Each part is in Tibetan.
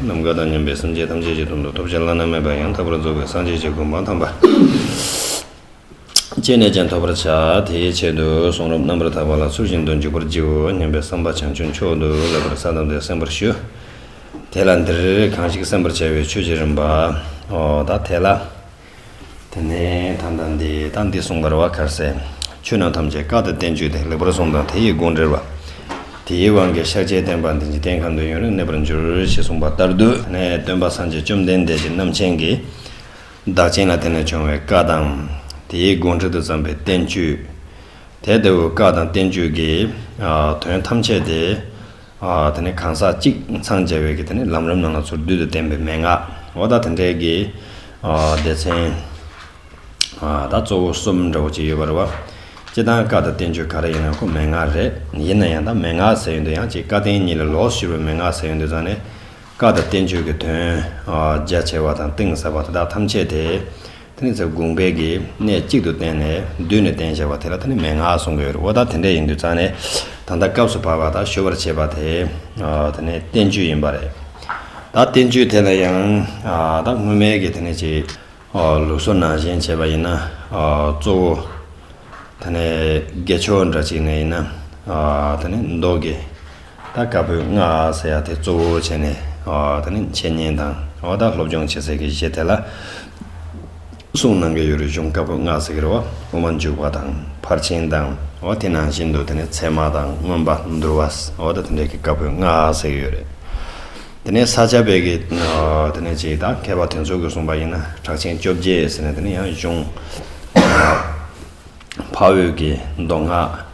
ནམ་མཁའ་དང་མཉམ་པའི་སངས་རྒྱས་ཐམས་ཅད་ཀྱི་དོན་དུ་ཐོབ་བྱ་བླ་ན་མེད་པ་ཡང་དག་པར་རྫོགས་པའི་སངས་རྒྱས་ཀྱི་སྒོ་མ་ཐམས་པ་བཅད་ནས་ཀྱང་ཐོབ་པར་བྱ། དེའི་ཆེད་དུ་གསུང་རབ་རྣམ་པར་དག་པ་ལ་ཚུལ་བཞིན་དུ་འཇུག་པར་བགྱིའོ་སྙམ་པའི་བསམ་པ་བྱང་ཆུབ་མཆོག་ཏུ་ལེགས་པར་ས་དང་དེ་གསན་པར་ཞུ། དེ་ལ་འདིར་གང་ཞིག་གསན་པར་བྱ་བའི་ཆོས་ཀྱི་རིམ་པའོ། དེ་ལ། དེ་ནས་ད་ལྟ་འདི་དང་འདི་གསུངས་པར་བ་གར་སའི་ཆོས་རྣམས་ཐམས་ཅད་བཀའ་དང་བསྟན་བཅོས་ཏེ་ལེགས་པར་གསུངས་དང་དེ་ཡི་དགོངས་འགྲེལ་བ། དེའི་དབང་གིས་ཤཱཀྱའི་བསྟན་པ་འདི་འཇིག་རྟེན་ཁམས་དུ་ཡུན་རིང་གནས་པར་འགྱུར་ཞེས་གསུངས་པ་ལྟར་དུ་དེ་ནས་སྟོན་པ་སངས་རྒྱས་བཅོམ་ལྡན་འདས་ཀྱིས་རྣམ་མཁྱེན་གྱི་བདག་བྱིན་ལ་དེ་ནས་བྱུང་བའི་བཀའ་དང། དེའི་དགོངས་འགྲེལ་དུ་བརྩམས་པའི་བསྟན་བཅོས། དེ་ལྟ་བུའི་བཀའ་དང་བསྟན་བཅོས་ཀྱི་དོན་ཐམས་ཅད་དེ། དེ་ནས་གང་ཟག་གཅིག་འཚང་རྒྱ་བས་ཀྱིས་ལམ་རིམ་རྣམས་ལ་ཚུར་འདུས་དང་ལྡན་པའི་མན་ངག་འོ་ད་དེ་འདྲའི་གི་སྡེ་ཚན་ད་གཙོ་བོ་གསུམ་འདྲ་བོ་ཅིག་ཡོད་པ་རེད་བ། སྤྱི་དང་བཀའ་དང་བསྟན་བཅོས་ག་རེ་ཡིན་ན་ཁོ་མན་ངག་རེད་ཡིན་ན་ཡང་ད་མན་ངག་ཟེར་ཡོད་འདུག་ཡང་གཅིག་བཀའ་བསྟན་གཉིས་ལ་ལོགས་ཞུགས་པའི་མན་ངག་ཟེར་ཡོད་འདུག་ཙང་ནས་བཀའ་དང་བསྟན་བཅོས་ཀྱི་དོན་རྒྱ་ཆེ་བ་དང་གཏིང་ཟབ་པ་དེ་དག་ཐམས་ཅད་དེ། ཐུན་ཚབ་དགུང་བརྒལ་གྱི་གནས་གཅིག་ཏུ་བསྟན་ནས་མདུན་ནས་བསྟན་བྱ་བ་དེ་ལ་ད་ནི་མན་ངག་གསུང་གི་ཡོད་རེད་འོ་ད་དེ་འདྲ་ཡིན་དུས་རྩ་ནས་ད་ལྟ་སྐབས་སུ་བབས་པ་དག་ཞུ་བར་བྱེད་པ་དེ་ད་ནི་བསྟན་བཅོས་ཡིན་པ་རེད། ད་བསྟན་བཅོས་དེ་ལ་ཡང་ད་སྔོན་མའི་གི་དེ་ནི་ཅི། ལུགས་སོ་ནང་བཞིན་བྱེད་པ་ཡིན་ན་གཙོ་བོ་ད་ནི་དགེ་ཕྱོགས་འདྲ་གཅིག་ནས་ཡིན་ན་ད་ནི་མདོ་དགེ། ད་དཀར་པོའི་སྔགས་ཟེར་ཡག་དེ་གཙོ་བོ་བྱས་ནས་ད་ནི་འཆད་ཉན་དང་བར་ཐག་སློབ་སྦྱོང་བྱེད་སའི་གི་གཞི་དེ་ལ་གསུངས་གནང་གི་ཡོད་རེད་གཞུང་དཀར་པོའི་སྔགས་ཟེར་གི་རེད་བ་དབུ་མ་འཇུག་པ་དང་ཕར་ཕྱིན་དང་བ་དེ་ནང་བཞིན་དུ་དེ་ནི་ཚད་མ་དང་མངོན་པ་འདུལ་བ་བ་ད་དེ་འདྲ་གི་དཀར་པོའི་སྔགས་ཟེར་གི་ཡོད་རེད་དེ་ནས་ས་སྐྱ་པའི་གི་དེ་ནས་ཅིག་དང་མཁས་པ་དེ་ཚོ་གི་གསུངས་པ་ཡིན་ན་གྲགས་ཆེན་བཅོ་བརྒྱད་ཟེར་ནས་དེ་ནི་ཡང་གཞུང་ཕ་འོད་ཀྱི་མདོ་སྔགས།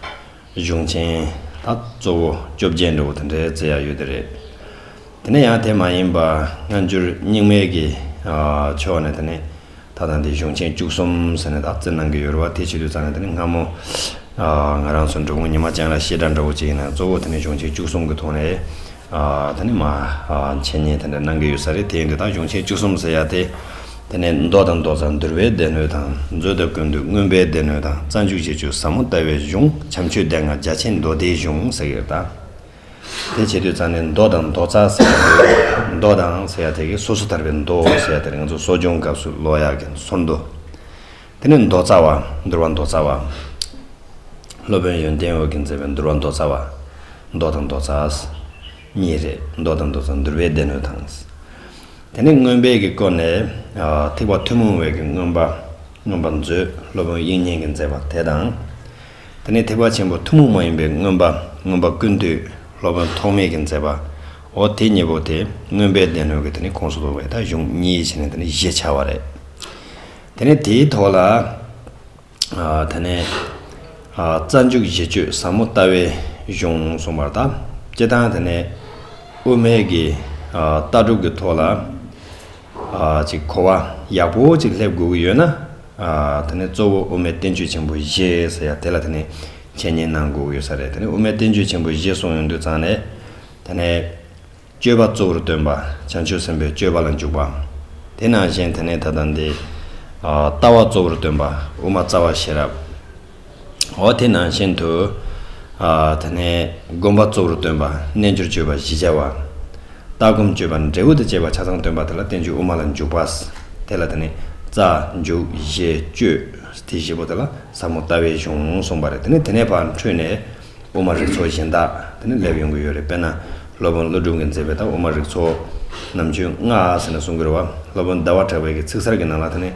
གཞུང་ཆེན་ལ་གཙོ་བོ་བཅོ་བརྒྱད་འགྲོ་བོ་དེ་འདྲའི་རྩེ་ཡག་ཡོད་དེ་རེད། དེ་ནས་ཡང་དེ་མ་ཡིན་པ་སྔ་འགྱུར་རྙིང་མའི་གི་ཕྱོགས་ནས་དེ་ནི་ད་དང་དེ་གཞུང་ཆེན་བཅུ་གསུམ་ཟེར་ནས་དག་རྩི་གནང་གི་ཡོད་རེད་བ་དེ་ཕྱི་དུས་ཙང་ནས་དེ་ནི་སྔ་མོ་ང་རང་ཚོ་འབྲུག་མོ་ཉི་མ་ཅན་ལ་བཤད་གྲྭ་འདྲ་བོ་ཅིག་ཡིན་ན་གཙོ་བོ་དེ་ནི་གཞུང་ཆེན་བཅུ་གསུམ་གི་ཐོག་ནས་ད་ནི་མ། འཆད་ཉན་དེ་འདྲ་གནང་གི་ཡོད་ས་རེད་དེ་འདི་དག་གཞུང་ཆེན་བཅུ་གསུམ་ཟེར་ཡག་སྟེ། དེ་ནས་མདོ་དང་མདོ་རྩ་འདུལ་བའི་སྡེ་སྣོད་དང་མཛོད་དང་ཀུན་འདུས་མངོན་པའི་སྡེ་སྣོད་དང་རྩ་འཇུག་བྱེད་ཆོས་ཟབ་མོ་ལྟ་བའི་གཞུང་བྱམས་ཆོས་སྡེ་ལྔ་རྒྱ་ཆེན་མདོ་སྡེའི་གཞུང་ཟེར་གི་རེད་ད། དེ་བྱེད་དུས་རྩ་ནི་མདོ་དང་མདོ་རྩ་ཟེར་ཡག་དེ། མདོ་དང་ཟེར་ཡག་དེ་གའི་སོ་སོ་ཐར་པའི་མདོ་ཟེར་ཡག་དེར་ང་ཚོ་གསོ་སྦྱོང་སྐབས་སུ་ལོ་ཡག་གི་ཚོར་མདོ། དེ་ནས་མདོ་རྩ་བ། འདུལ་བ་མདོ་རྩ་བ། སློབ་དཔོན་ཡོན་ཏན་འོད་ཀྱིས་མཛད་པའི་འདུལ་བ་མདོ་རྩ་བ། མདོ་དང་མདོ་རྩ། གཉིས་རེད། མདོ་དང་མདོ་རྩ་འདུལ་བའི་སྡེ་སྣོད་དང། དེ་ནས་མངོན་དཔལ་གྱི་སྐོར་ནས། ཐེག་པ་ཐུན་མོང་བའི་གི་མངོན་པ། མངོན་པར་མཛོད་སློབ་དཔོན་དབྱིག་གཉེན་གྱིས་མཛད་པ་དེ་དང། དེ་ནས་ཐེག་པ་ཆེན་པོ་ཐུན་མོང་མ་ཡིན་པའི་མངོན་པ། མངོན་པ་ཀུན་བཏུས་སློབ་དཔོན་ཐོགས་མེད་ཀྱིས་མཛད་པ། འོ་དེ་གཉིས་པོ་དེ་མངོན་དཔལ་སྡེ་སྣོད་ཀྱི་དེ་ནི་ཁོངས་སུ་གཏོགས་པའི་ད་གཞུང་གཉིས་ཞེས་ནས་དེ་ནི་བཞི་ཆ་བ་རེད། དེ་ནས་དེའི་ཐོག་ལ་ད་ནས་རྩ་འཇུག་བཞི་སྤྱོད་ཟབ་མོ་ལྟ་བའི་གཞུང་གསུངས་པར་དང་སྤྱི་དང་དེ་ནས་དབུ་མེད་ཀྱི་ལྟ་གྲུབ་ཀྱི་ཐོག་ལ་ཅིག་གོ་བ་ཡག་པོ་ཅིག་སླེབས་དགོས་ཀྱི་ཡོད་ན་དེ་ནས་གཙོ་བོ་དབུ་མའི་བསྟན་བཅོས་ཆེན་པོ་བཞི་ཟེར་ཡ་དེ་ལ་དེ་ནས་འཆད་ཉན་གནང་དགོས་ཀྱི་ཡོད་ས་རེད་དེ་ནས་དབུ་མའི་བསྟན་བཅོས་ཆེན་པོ་བཞི་གསུངས་ཡོང་དུས་ཚང་ནས་དེ་ནས། སྤྱོད་པ་གཙོ་བོར་སྟོན་པ། བྱང་ཆུབ་སེམས་དཔའི་སྤྱོད་པ་ལ་འཇུག་པའམ། དེ་ནང་བཞིན་དེ་ནས་ད་ལྟ་འདི། ལྟ་བ་གཙོ་བོར་སྟོན་པ། དབུ་མ་རྩ་བ་ཤེས་རབ། འོ་དེ་ནང་བཞིན་དུ། དེ་ནས་བསྒོམ་པ་གཙོ་བོར་སྟོན་པ། རྣལ་འབྱོར་སྤྱོད་པ་བཞི་བྱ་བ། ལྟ་སྒོམ་སྤྱོད་པ་འབྲས་བུ་དང་བཅས་པ་ཆ་ཚང་སྟོན་པ་དེ་ལ་བསྟན་བཅོས་དབུ་མ་ལ་འཇུག་པ། དེ་ལ་དེ་ནས་རྩ། འཇུག། བཞེད། སྤྱོད། དེ་བཞི་པོ་དེ་ལ་ཟབ་མོ་ལྟ་བའི་གཞུང་གསུངས་པ་རེད་དེ་ནས་དེ་ནས་བར་འཕྲོས་ནས། དབུ་མ་རིགས་ཚོགས་གཞན་དག་དེ་ནས་སླེབས་ཡོང་གི་ཡོད་རེད་དཔེར་ན་སློབ་དཔོན་ཀླུ་སྒྲུབ་ཀྱིས་མཛད་པའི་ད་དབུ་མ་རིགས་ཚོགས་ནམ་རྒྱུན་སྔགས་ཟེར་ནས་གསུང་གི་རེད་བ། སློབ་དཔོན་ཟླ་བ་གྲགས་པས་ཀྱི་ཚིག་གསར་གྱི་ནང་ལ་དེ་ནས་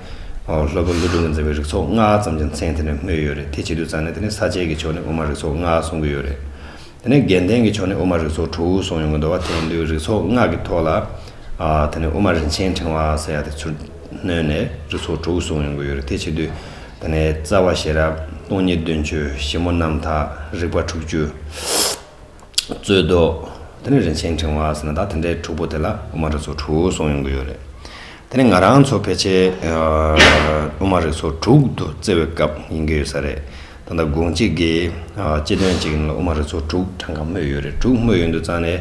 སློབ་དཔོན་ཀླུ་སྒྲུབ་ཀྱིས་མཛད་པའི་རིགས་ཚོགས་སྔགས་ཙམ་གྱི་མཚན་དེ་ནས་སྨོས་ཡོད་རེད་དེ་བྱེད་དུས་ཙང་ནས་དེ་ནས་ས་བཅད་ཀྱི་ཕྱོགས་ནས་དབུ་མ་རིགས་ཚོགས་སྔགས་གསུང་གི་ཡོད་རེད། དེ་ནས་རྒྱན་ལྡན་གྱི་ཕྱོགས་ནས་དབུ་མ་རིགས་ཚོགས་དྲུག་གསུང་ཡོང་གི་འདུག་བ་དེ་ཡིན་དུས་རིགས་ཚོགས་སྔགས་ཀྱི་ཐོག་ལ་དེ་ནས་དབུ་མ་རིན་ཆེན་ཕྲེང་བ་ཟེར་ཡག་དེ་ཚུར་ནོན་ནས་རི་ཚོགས་དྲུག་བཟུང་ཡོང་གི་ཡོད་རེད་དེ་བྱེད་དུས། ད་ནས་རྩ་བ་ཤེས་རབ་སྟོང་ཉིད་དོན་བཅུ་ཞིབ་མོ་རྣམ་དག་རིག་པ་དྲུག་ཅུ། རྩོད་བཟློག། དེ་ནས་རིན་ཆེན་ཕྲེང་བ་ཟེར་ན་ད་དེ་འདྲའི་དྲུག་པོ་དེ་ལ་དབུ་མ་རི་ཚོགས་དྲུག་བཟུང་ཡོང་གི་ཡོད་རེད། དེ་ནས་ང་རང་ཚོ་ཕལ་ཆེར་དབུ་མ་རི་ཚོགས་དྲུག་ཏུ་བརྩི་བའི་སྐབས་ཡིན་གྱི་ཡོད་ས་རེད། ད་ལྟ་དགོང་གཅིག་གིས་སྤྱི་དོན་གཅིག་ཡིན་ལ་དབུ་མ་རི་ཚོགས་དྲུག་གྲངས་ཀ་སྨོས་ཡོད་རེད་དྲུག་སྨོས་ཡོད་འདུག་ཙང་ནས།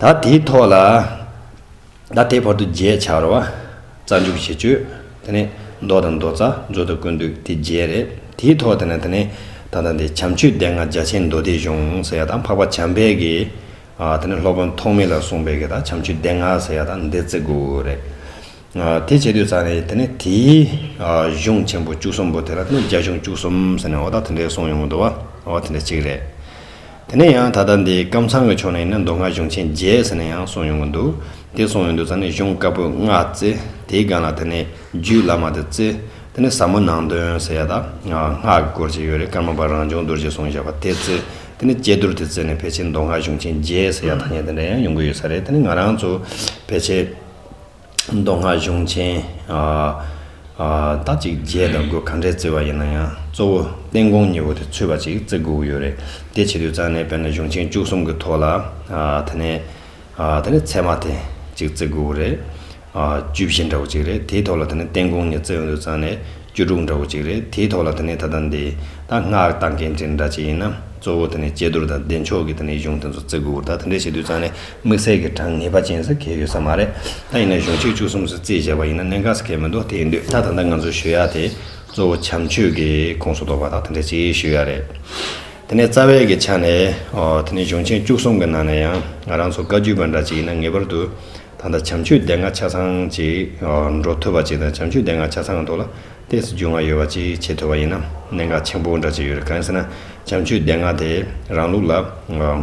ད་དེའི་ཐོག་ལ་ད་དེའི་བར་དུ་བརྒྱད་ཆར་བ་རྩ་འཇུག་བྱེད་སྤྱོད་དེ་ནས་མདོ་དང་མདོ་རྩ་མཛོད་དུ་ཀུན་འདུས་དེ་བརྒྱད་རེད་དེའི་ཐོག་དེ་ནས་དེ་ནས་ད་ལྟ་འདི་བྱམས་ཆོས་སྡེ་ལྔ་རྒྱ་ཆེན་མདོ་སྡེའི་གཞུང་ཟེར་ཡ་དང་འཕགས་པ་བྱམས་པས་ཀྱི་དེ་ནས་སློབ་དཔོན་ཐོགས་མེད་ལ་གསུངས་པས་ཀྱི་ད་བྱམས་ཆོས་སྡེ་ལྔ་ཟེར་ཡ་དང་འདི་བརྩི་དགོས་རེད། དེ་བྱེད་དུས་ཙཱ་ནས་དེ་ནས་དེའི་གཞུང་ཆེན་པོ་བཅུ་གསུམ་པོ་དེ་ལ་ནི་རྒྱ་གཞུང་བཅུ་གསུམ་ཟེར་ནས་འོ་ད་དེ་འདྲའི་གསུང་ཡོང་གི་འདུག་བ་འོ་དེ་འདྲ་གཅིག་རེད། དེ་ནས་ཡང་ད་ལྟ་འདི་ཀམ་ཚང་གི་ཕྱོགས་ནས་ནི་མདོ་སྔགས་གཞུང་ཆེན་བརྒྱད་ཟེར་ནས་ཡང་གསུང་ཡོང་གི་འདུག་དེ་གསུང་ཡོང་དུས་ཙཱ་ནས་གཞུང་དཀར་པོའི་སྔགས་བརྩི་དེའི་སྒང་ལ་དེ་ནས་རྒྱུད་བླ་མ་དེ་བརྩི་དེ་ནས་ཟབ་མོ་ནང་དོན་ཟེར་ཡ་ད་སྔགས་ཀྱི་སྐོར་ཅིག་ཡོད་རེད་ཀརྨ་པ་རང་བྱུང་རྡོ་རྗེ་གསུང་བཞག་པ་དེ་བརྩི་དེ་ནས་དཔྱད་བསྡུར་དེ་བརྩི་ནས་ཕལ་ཆེར་མདོ་སྔགས་གཞུང་ཆེན་བརྒྱད་ཟེར་ཡ་ད་ནས་དེ་འདྲ་ཡང་ཡོང་གི་ཡོད་ས་རེད་དེ་ནས་ང་རང་ཚོ་ཕལ་ཆེར། མདོ་སྔགས་གཞུང་ཆེན། དག་ཅིག་རྒྱས་དང་སྒོས་ག་འདྲས་བརྩི་བ་ཡིན་ན་ཡང་གཙོ་བོ་བསྟན་དགོངས་གཉིས་པོ་དེ་ཚུད་པ་ཅིག་བརྩི་དགོས་ཀྱི་ཡོད་རེད་དེ་བྱེད་དུས་ཙང་ནས་དཔེར་ན་གཞུང་ཆེན་བཅུ་གསུམ་གྱི་ཐོག་ལ་དེ་ནས་དེ་ནས་ཚད་མ་དེ་ཅིག་བརྩི་དགོས་ཀྱི་རེད། བཅུ་བཞི་འདྲ་བོ་ཅིག་རེད་དེའི་ཐོག་ལ་དེ་ནས་བསྟན་དགོངས་གཉིས་བརྩི་འོས་དུས་ཙང་ནས། བཅུ་དྲུག་འདྲ་བོ་གཅིག་རེད་དེའི་ཐོག་ལ་དེ་ནས་ད་ལྟ་འདི་ད་སྔགས་བཏགས་འགན་འཁྲི་འདྲ་གཅིག་ཡིན་ན་གཙོ་བོ་དེ་ནས་དཔྱད་བསྡུར་དང་བདེ་མཆོག་གི་དེ་ནས་གཞུང་དེ་ཚོ་བརྩི་དགོས་ད་དེ་འདྲ་བྱེད་དུས་ཙང་ནས་དམིགས་བསལ་གྱི་གྲངས་ངེས་པ་ཅན་ཟེར་མཁན་ཡོད་ས་མ་རེད་ད་ཡིན་ན་གཞུང་གཅིག་བཅུ་གསུམ་སུ་བརྩིས་བྱས་པ་ཡིན་ན་གནད་འགག་ཟེར་མཁན་མི་འདུག་དེ་ཡིན་དུས་ད་ད་ལྟ་ང་ཚོའི་ཞུ་ཡ་དེ་གཙོ་བོ་བྱམས་ཆོས་ཀྱི་ཁོངས་སུ་གཏོགས་པ་དག་དེ་འདྲ་གཅིག་ཞུ་ཡ་རེད་དེ་ནས་རྩ་བའི་གི་ཆ་ནས་དེ་ནས་གཞུང་ཆེན་བཅུ་གསུམ་གི་ནང་ནས་ཡང་རང་ཚོ་བཀའ་བརྒྱུད་པ་འདྲ་གཅིག་ཡིན་ན་ངེས་པར་དུ། ད་ལྟ་བྱམས་ཆོས་སྡེ་ལྔ་ཆ་ཚང་གཅིག་འགྲོ་ཐུབ་པ་གཅིག་དང་བྱམས་ཆོས་སྡེ་ལྔ་ཆ་ཚང་དུ་ལ་ཏེས་རྒྱུས་མངའ་ཡོད་པ་གཅིག་བྱེད་ཐུབ་པ་ཡིན་ན་གནད་འགག་ཆེན་པོ་འདྲ་ཅིག་ཡོད་རེད་གང་ཡིན་ཟེར་ན་བྱམས་ཆོས་སྡེ་ལྔ་དེ་རང་ལུགས་ལ་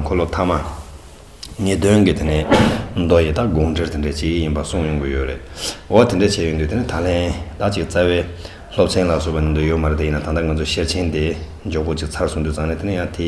འཁོར་ལོ་ཐ་མ་ངེས་དོན་གྱི་དེ་ནས་མདོ་ཡི་དག་དགོངས་འགྲེལ་དེ་འདྲའི་ཅིག་ཡིན་པ་གསུངས་ཡོང་གི་ཡོད་རེད་འོ་དེ་འདྲ་བྱས་ཡོང་དུས་དེ་ནས་ད་ལན་དག་ཅིག་རྩ་བའི་སློབ་ཚན་ལ་སོགས་པ་ནས་མདོ་ཡོད་མ་རེད་དེ་ཡིན་ན་ད་ལྟ་ང་ཚོ་ཤེར་ཕྱིན་དེ་འཇོག་སྒོ་ཅིག་ཚར་སོང་དུས་ཙང་ནས་དེ་ནས་ཡང་དེ་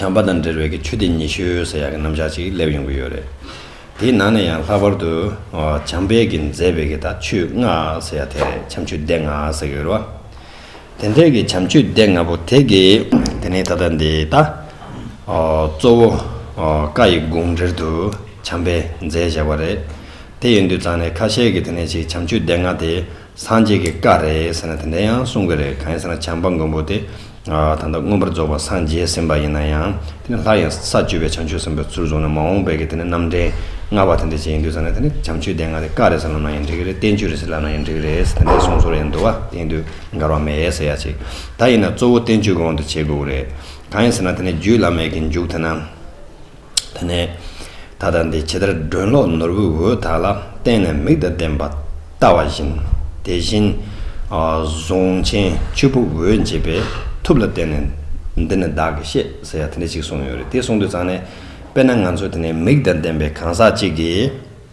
བྱམས་པ་དང་འབྲེལ་བའི་ཆུ་སྡེ་ཉི་ཤུ་ཟེར་ཡག་གི་རྣམ་གཞག་ཅིག་སླེབས་ཡོང་གི་ཡོད་རེད། དེའི་ནང་ནས་ཡང་ལྷག་པར་དུ་བྱམས་པས་ཀྱི་མཛད་པའི་ཀྱི་དང་ཆུ་ལྔ་ཟེར་ཡག་དེ་རེད་བྱམས་ཆུ་སྡེ་ལྔ་ཟེར་གི་ཡོད་རེད་བ། དེ་འདྲའི་ཀྱི་བྱམས་ཆུ་སྡེ་ལྔ་པོ་དེ་ཀྱི་དེ་ནས་ད་ལྟ་འདི་ལྟ། གཙོ་བོ་བཀའ་ཡི་དགོངས་འགྲེལ་དུ་བྱམས་པས་མཛད་བཞག་པ་རེད། དེ་ཡིན་དུས་ཙང་ནས་ཁ་ཤས་ཀྱི་དེ་ནས་ཅིག་བྱམས་ཆུ་སྡེ་ལྔ་དེ་སངས་རྒྱས་ཀྱི་བཀའ་རེད་ཟེར་ན་དེ་འདྲ་ཡང་གསུང་གི་རེད་གང་ཡིན་ཟེར་ན་བྱམས་པ་མགོན་པོ་དེ་ད་ལྟ་མངོན་པར་རྫོགས་པར་སངས་རྒྱས་ཟིན་པ་ཡིན་ན་ཡང་དེ་ནི་ལྷ་ཡང་ས་བཅུ་པའི་བྱང་ཆུབ་སེམས་དཔའི་ཚུལ་བཟུང་ནས་མ་འོངས་པའི་དེ་ནི་རྣམ་འདྲེན་ལྔ་བ་དེ་འདྲ་བྱེད་ཡིན་དུས་ཟེར་ན་དེ་ནི་བྱམས་ཆོས་སྡེ་ལྔ་དེ་བཀའ་རེད་ཟེར་ལབ་ན་ཡང་འགྲིག་གི་རེད་བསྟན་བཅོས་རེད་ཟེར་ལབ་ན་ཡང་འགྲིག་གི་རེད་དེ་འདྲའི་གསུང་ཟོར་ཡང་འདུག་བ་དེ་ཡིན་དུས་འགལ་བ་མེད་ཟེར་ཡག་ཅིག་ད་ཡིན་ན་གཙོ་བོ་བསྟན་བཅོས་གོང་དུ་བྱེད་དགོས་ཀྱི་རེད་གང་ཡིན་ཟེར་ན་དེ་ནི་རྒྱུད་བླ་མེད་ཀྱི་མཇུག་དེ་ན། དེ་ནས་ད་ལྟ་འདི་ཇི་ལྟར་སྒྲོན་གློག་ནོར་བུའི་འོད་དག་ལ་བརྟེན་ནས་མིག་དང་ལྡན་པ་བལྟ་བ་བཞིན། དེ་བཞིན་གཟུངས་ཆེན་བཅུ་པོ་འོད་འབྱེད་པའི་ཐུབ་ལ་བརྟེན་ནས་འདི་ནི་བདག་གིས་ཤེས་ཟེར་ཡ་དེ་འདྲ་ཅིག་གསུངས་ཡོད་རེད་དེ་གསུངས་དུས་ཙང་ནས་དཔེར་ན་ང་ཚོ་དེ་ནས་མིག་དང་ལྡན་པའི་གང་ཟག་ཅིག་གིས་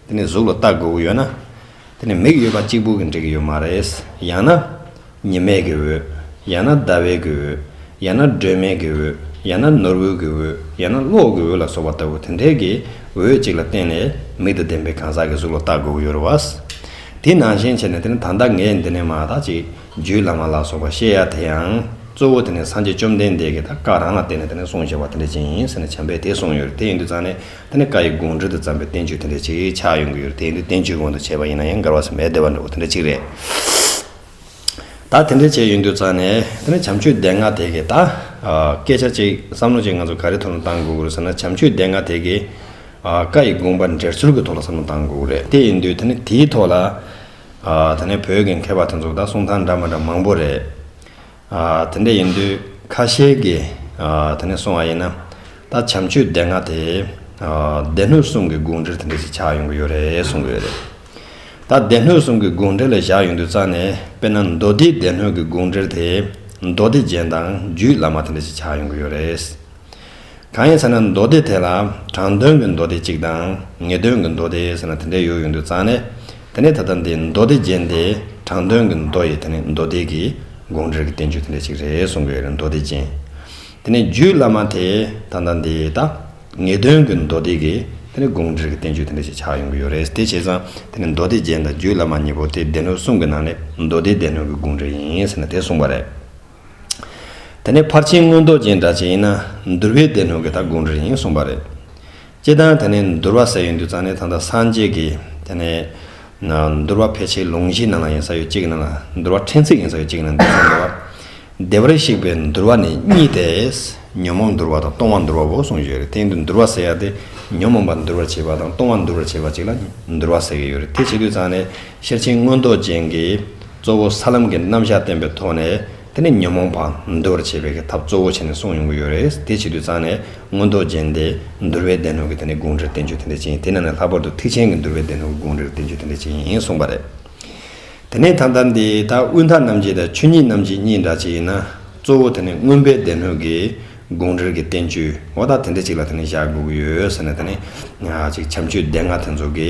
དེ་ནས་གཟུགས་ལ་བལྟ་དགོས་ཀྱི་ཡོད་ན། དེ་ནི་མིག་ཡོད་པ་གཅིག་པུ་གིས་འགྲིག་གི་ཡོད་མ་རེད། ཡང་ན། ཉི་མས་ཀྱི་འོད། ཡང་ན་ཟླ་བས་ཀྱི་འོད། ཡང་ན་སྒྲོན་མེ་ཀྱི་འོད། ཡང་ན་ནོར་བུ་ཀྱི་འོད། ཡང་ན་གློག་གི་འོད་ལ་སོགས་པ་ལྟ་བུ་དེ་འད་ཀྱི་འོད་ཅིག་ལ་བརྟེན་ནས་མིག་དང་ལྡན་པའི་གང་ཟག་གི་གཟུགས་ལ་བལྟ་དགོས་ཀྱི་ཡོད་རུ་བ། དེ་ནང་བཞིན་བྱས་ནས་དེ་ནི་ད་ལྟ་ངས་འདི་ནས་མ་ཐག་ཅིག་རྒྱུད་བླ་མ་ལ་སོགས་པ་བཤད་ཡ་དེ་ཡང། གཙོ་བོ་དེ་ནི་སངས་རྒྱས་བཅོམ་ལྡན་འདས་ཀྱིས་ད་བཀའ་རང་ལ་བརྟེན་ནས་དེ་ནས་གསུངས་བྱས་པ་དེ་འད་ཅིང་ཟེར་ནས་བྱམས་པས་དེ་གསུངས་ཡོད་རེད་དེ་ཡིན་དུས་ཙང་ནས་དེ་ནི་བཀའ་ཡི་དགོངས་འགྲེལ་དུ་བརྩམས་པའི་བསྟན་བཅོས་དེ་འདྲ་ཅིག་ཆགས་ཡོང་གི་ཡོད་རེད་དེ་ཡིན་དུས་བསྟན་བཅོས་གོང་དུ་བྱས་པ་ཡིན་ན་ཡང་མགར་བ་ཟེར་མའི་བདེ་བ་འགྲོ་བ་དེ་འདྲ་ཅིག་རེད། ད་དེ་འདྲ་བྱས་ཡོང་དུས་ཙང་ནས་དེ་ནི་བྱམས་ཆོས་སྡེ་ལྔ་དེ་གས་ད། སྐད་ཆ་གཅིག་བསམ་བློ་གཅིག་ང་ཚོ་ག་རེ་ཐོག་ནས་བཏང་དགོས་རེད་ཟེར་ན་བྱམས་ཆོས་སྡེ་ལྔ་དེ་གས། བཀའ་ཡི་དགོངས་པ་འགྲེལ་ཚུལ་གྱི་ཐོག་ལ་བསམ་བློ་བཏང་དགོས་རེད་དེ་ཡིན་དུས་དེ་ནི་དེའི་ཐོག་ལ། ད་ནི་བོད་ཀྱི་མཁས་པ་དེ་ཚོ་ད་གསུང་ཐང་འདྲ་མ་འདྲ་མང་པོ་རེད། དེ་འདྲ་ཡིན་དུས་ཁ་ཤས་ཀྱིས་དེ་ནས་སོང་བ་ཡིན་ན། ད་བྱམས་ཆོས་སྡེ་ལྔ་དེས་སྡེ་སྣོད་གསུམ་གྱི་དགོངས་འགྲེལ་དེ་འདྲ་ཞིག་ཆགས་ཡོང་གི་ཡོད་རེད་གསུང་གི་ཡོད་རེད། ད་སྡེ་སྣོད་གསུམ་གྱི་དགོངས་འགྲེལ་ལ་བཞག་ཡོང་དུས་རྩ་ནས་དཔེར་ན་མདོ་སྡེའི་སྡེ་སྣོད་ཀྱི་དགོངས་འགྲེལ་དེས་མདོ་སྡེ་རྒྱན་དང་རྒྱུད་བླ་མ་དེ་འདྲ་ཞིག་ཆགས་ཡོང་གི་ཡོད་རེད། གང་ཡིན་ཟེར་ན་མདོ་སྡེ་དེ་ལ་དྲང་དོན་གྱི་མདོ་སྡེ་གཅིག་དང་ངེས་དོན་གྱི་མདོ་སྡེ་ཟེར་ན་དེ་འདྲའི་ཡོད་ཡོད་འདུག་ཙང་ནས་དེ་ནས་ད་ལྟ་འདི་མདོ་སྡེ་རྗེན་དེ་དྲང་དོན་གྱི་མདོ་ཡི་དེ་ནི་མདོ་སྡེ་གི་དགོངས་འགྲེལ་གྱི་བསྟན་བཅོས་དེ་འདྲ་གཅིག་རེད་གསུང་གི་རེད་མདོ་སྡེ་རྗེན་དེ་ནི་རྒྱུད་བླ་མ་དེ་ད་ལྟ་འདི་ད་ངེས་དོན་གྱི་མདོ་སྡེ་གི་དེ་ནི་དགོངས་འགྲེལ་གྱི་བསྟན་བཅོས་དེ་འདྲ་གཅིག་ཆགས་ཡོང་གི་ཡོད་རེད་དེ་བྱས་ཙང་དེ་ནི་མདོ་སྡེ་རྗེན་དང་རྒྱུད་བླ་མ་གཉིས་པོ་དེ་སྡེ་སྣོད་གསུམ་གྱི་ནང་ནས་མདོ་སྡེའི་སྡེ་སྣོད་ཀྱི་དགོངས་འགྲེལ་ཡིན་ཟེར་ན་དེ་གསུངས་པ་རེད། དེ་ནས་ཕར་ཕྱིན་མངོན་རྟོགས་ཅན་འདྲ་བྱེད་ཡིན་ན་འདུལ་བའི་སྡེ་སྣོད་ཀྱི་ད་དགོངས་འགྲེལ་ཡིན་གསུངས་པ་རེད། སྤྱི་བཏང་དེ་ནས་འདུལ་བ་ཟེར་ཡོད་འདུག་ཙང་ནས་ད་ལྟ་སངས་རྒྱས་ཀྱི་དེ་ནས། འདུལ་བ་ཕལ་ཆེར་ལུང་གཞིའི་ནང་ལ་ཡིན་ས་ཡོད་ཅིག་གི་ནང་ལ་འདུལ་བ་ཕྲན་ཚེགས་ཡིན་ས་ཡོད་ཅིག་གི་ནང་འདུལ་བ་འདུལ་བ། སྡེ་བར་གཤེགས་པའི་འདུལ་བ་ནི་གཉིས་ཏེ། ཉོན་མོངས་འདུལ་བ་དང་སྟོང་བ་འདུལ་བ་འོག་གསུངས་ཡོད་རེད་དེ་འདུལ་བ་ཟེར་ཡག་དེ་ཉོན་མོངས་པ་འདུལ་བར་བྱེད་པ་དང་སྟོང་བ་འདུལ་བར་བྱེད་པ་ཅིག་ལ་འདུལ་བ་ཟེར་གྱི་ཡོད་རེད་དེ་བྱེད་དུས་ཙང་ནས། ཤེར་ཕྱིན་མངོན་རྟོགས་ཅན་གྱིས་གཙོ་བོ་ས་ལམ་གྱི་རྣམ་གཞག་བསྟན་པའི་ཐོག་ནས་དེ་ནི་ཉོན་མོངས་པ་འདུལ་བར་བྱེད་པའི་ཐབས་གཙོ་བོ་བྱས་ནས་གསུངས་ཡོང་གི་ཡོད་རེད་དེ་བྱེད་དུས་ཙང་ནས་མངོན་རྟོགས་ཅན་དེ་འདུལ་བའི་སྡེ་སྣོད་ཀྱི་དེ་ནི་དགོངས་འགྲེལ་བསྟན་བཅོས་དེ་འདྲ་ཅན་དེ་ནང་ནས་ལྷག་པར་དུ་ཐེག་ཆེན་གྱི་འདུལ་བའི་སྡེ་སྣོད་ཀྱི་དགོངས་འགྲེལ་བསྟན་བཅོས་དེ་འདྲ་ཅན་གསུངས་པ་རེད། དེ་ནས་ད་ལྟར་འདི་ལྟར་དབུས་མཐའ་རྣམ་འབྱེད་དང་ཆོས་ཉིད་རྣམ་འབྱེད་གཉིས་འདྲ་ཅན་ཡིན་ན་གཙོ་བོ་དེ་ནི་མངོན་པའི་སྡེ་སྣོད་ཀྱི་དགོངས་འགྲེལ་གྱི་བསྟན་བཅོས་འོ་ད་དེ་འདྲ་ཅིག་ལ་དེ་ནི་བཞག་དགོས་ཀྱི་ཡོད་ཟེར་ན་དེ་ནི། གཅིག་བྱམས་ཆོས་སྡེ་ལྔ་དེ་ཚོ་གི།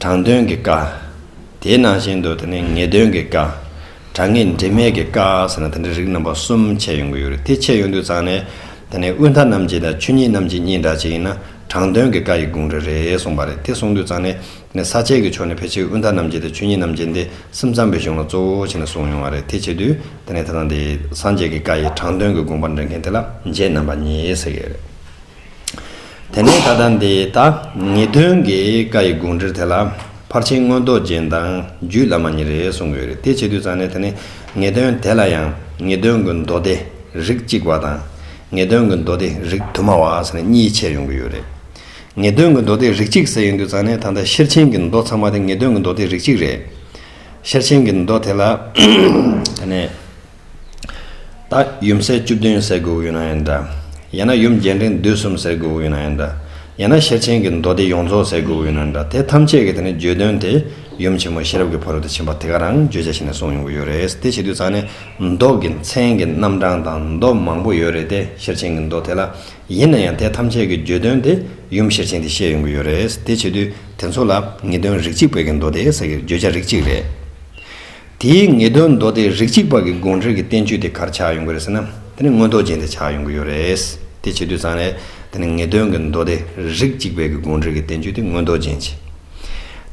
དྲང་དོན་གྱི་བཀའ། དེ་ནང་བཞིན་དུ་དེ་ནི་ངེས་དོན་གྱི་བཀའ། དྲང་ངེས་འབྲེལ་མེད་ཀྱི་བཀའ་ཟེར་ན་དེ་འདྲའི་རིགས་རྣམ་པ་གསུམ་འཆད་ཡོང་གི་ཡོད་རེད་དེ་འཆད་ཡོང་དུས་ཙང་ནས་དེ་ནི་དབུས་མཐའ་རྣམས་ཀྱི་དང་ཆོས་ཉིད་རྣམས་ཀྱི་གཉིས་འདྲ་གཅིག་ཡིན་ན་དྲང་དོན་གྱི་བཀའ་ཡི་དགོངས་འགྲེལ་རེད་གསུངས་པ་རེད་དེ་གསུངས་དུས་ཙང་ནས་དེ་ནི་ས་བཅད་ཀྱི་ཕྱོགས་ནས་ཕལ་ཆེར་དབུས་མཐའ་རྣམས་ཀྱི་དང་ཆོས་ཉིད་རྣམས་ཀྱི་འདི་སེམས་ཙམ་པའི་གཞུང་ལ་གཙོ་བོ་བྱས་ནས་གསུངས་ཡོང་བ་རེད་དེ་བྱས་དུས་དེ་ནས་དེ་ཙང་དེ་སངས་རྒྱས་ཀྱི་བཀའ་ཡི་དྲང་དོན་གྱི་དགོངས་པ་འདྲེན་མཁན་དེ་ལ་མཇལ་རྣམ་པ་གཉིས་ཟེར་གི་ཡོད་རེད། དེ་ནས་ད་ལྟ་འདི་ལྟ། ངེས་དོན་གྱི་བཀའ་ཡི་དགོངས་འགྲེལ་དེ་ལ། ཕར་ཕྱིན་སྔོན་རྡོ་རྗེ་མདང་རྒྱུད་བླ་མ་ཉིད་རེ་གསུངས་ཡོད་རེད་དེ་བྱེད་དུས་ཙང་ནས་དེ་ནི་ངེས་དོན་དེ་ལ་ཡང་ངེས་དོན་གྱི་མདོ་སྡེ་རིགས་གཅིག་བ་དང། ངེས་དོན་གྱི་མདོ་སྡེ་རིགས་དུ་མ་བ་ཟེར་ནས་གཉིས་ཕྱེ་ཡོང་གི་ཡོད་རེད། ངེས་དོན་གྱི་མདོ་སྡེ་རིགས་གཅིག་ཟེར་ཡོང་དུས་ཙང་ནས་ད་ལྟ་ཤེར་ཕྱིན་གྱི་མདོ་ཚང་མ་དེ་ངེས་དོན་གྱི་མདོ་སྡེ་རིགས་གཅིག་རེད། ཤེར་ཕྱིན་གྱི་མདོ་དེ་ལ། དེ་ནས། ད་ཡུམ་སྲས་བཅུ་བདུན་ཟེར་དགོས་ཡོད་ན་ཡང་འདྲ། ཡང་ན་ཡུམ་རྒྱན་ཕྲེང་བདུད་གསུམ་ཟེར་དགོས་ཡོད་ན་ཡང་འདྲ། ཡང་ན་ཤེར་ཕྱིན་གྱི་མདོ་སྡེ་ཡོངས་རྫོགས་ཟེར་དགོས་ཡོད་ན་འདྲ་དེ་ཐམས་ཅད་ཀྱི་དེ་ནི་བརྗོད་དོན་དེ་ཡུམ་ཆེན་མོ་ཤེས་རབ་ཀྱི་ཕོ་རོག་ཏུ་ཕྱིན་པ་དེ་ག་རང་བརྗོད་བྱ་ཞིག་ནས་གསུངས་ཡོང་གི་ཡོད་རེད་དེ་བྱེད་དུས་ཚང་ནི་མདོ་གི་མཚན་གྱི་རྣམ་གྲངས་དང་མདོ་མང་པོ་ཡོད་རེད་དེ་ཤེར་ཕྱིན་གྱི་མདོ་དེ་ལ་ཡིན་ན་ཡང་དེ་ཐམས་ཅད་ཀྱི་བརྗོད་དོན་དེ་ཡུམ་ཤེར་ཕྱིན་དེ་བཤད་ཡོང་གི་ཡོད་རེད་དེ་བྱེད་དུས་དེ་ཚོ་ལ་ངེས་དོན་རིགས་གཅིག་བོད་ཀྱི་མདོ་སྡེ་ཟེར་གྱི་བརྗོད་བྱ་རིགས་གཅིག་རེད། དེའི་ངེས་དོན་མདོ་སྡེ་རིགས་གཅིག་པ་གི་དགོངས་འགྲེལ་གྱི་བསྟན་བཅོས་དེ་གར་ཆགས་ཡོང་གི་རེད་ཟེར་ན་དེ་ནི་མངོན་རྟོགས་ཅན་དེ་ཆགས་ཡོང་གི་ཡོད་རེད། དེ་བྱེད་དུས་ཚང་རེད། དེ་ནི་ངེས་དོན་གྱི་མདོ་སྡེ་རིགས་གཅིག་པའི་གི་དགོངས་འགྲེལ་གྱི་བསྟན་བཅོས་དེ་མངོན་རྟོགས་ཅན་བྱེད།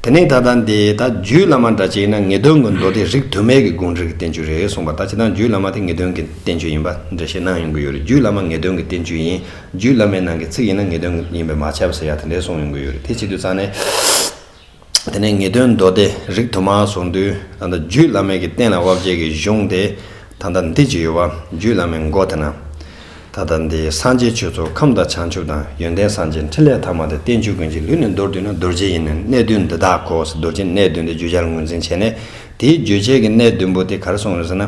དེ་ནི་ད་ལྟ་འདི་ད་རྒྱུད་བླ་མ་འདྲ་གཅིག་ན་ངེས་དོན་གྱི་མདོ་སྡེ་རིགས་དུ་མས་གི་དགོངས་འགྲེལ་གྱི་བསྟན་བཅོས་རེད་གསུངས་པ་ད་བྱེད་དང་རྒྱུད་བླ་མ་དེ་ངེས་དོན་གྱི་བསྟན་བཅོས་ཡིན་པ་འགྲེལ་བཤད་གནང་ཡོང་གི་ཡོད་རེད་རྒྱུད་བླ་མ་ངེས་དོན་གྱི་བསྟན་བཅོས་ཡིན་རྒྱུད་བླ་མའི་ནང་གི་ཚིག་ཡིན་ན་ངེས་དོན་ཡིན་པས་མ་ཆགས་པ་ཟེར་ཡག་དེ་འདྲས་གསུངས་ཡོང་གི་ཡོད་རེད་དེ་བྱེད་དུས་ཚང་ནས། དེ་ནས་ངེས་དོན་མདོ་སྡེ་རིགས་དུ་མ་གཟུང་དུས་ད་ལྟ་རྒྱུད་བླ་མེད་ཀྱི་བསྟན་ལ་དབབ་བྱེད་ཀྱི་གཞུང་དེ་ད་ལྟ་འདི་ཅི་ཡོད་བ་རྒྱུད་བླ་མའི་མགོ་དེ་ན། ད་ལྟ་འདི་སངས་རྒྱས་ཆོས་ཚོགས་ཁམས་དང་བྱང་ཆུབ་དང་ཡོན་ཏན་སངས་རྒྱས་འཕྲིན་ལས་ཐ་མ་དེ་བསྟན་བཅོས་ཀུན་གྱི་ལུས་ནས་མདོར་བསྡུས་ན་རྡོ་རྗེ་ཡིན་ནི་གནད་བདུན་འདི་དག་གོ་ཟེར་རྡོ་རྗེ་གནད་བདུན་དེ་བརྗོད་བྱར་ངོས་འཛིན་བྱས་ནས་དེའི་རྗོད་བྱེད་ཀྱི་གནད་བདུན་པོ་དེ་གར་སོང་བ་རེད་ཟེར་ན།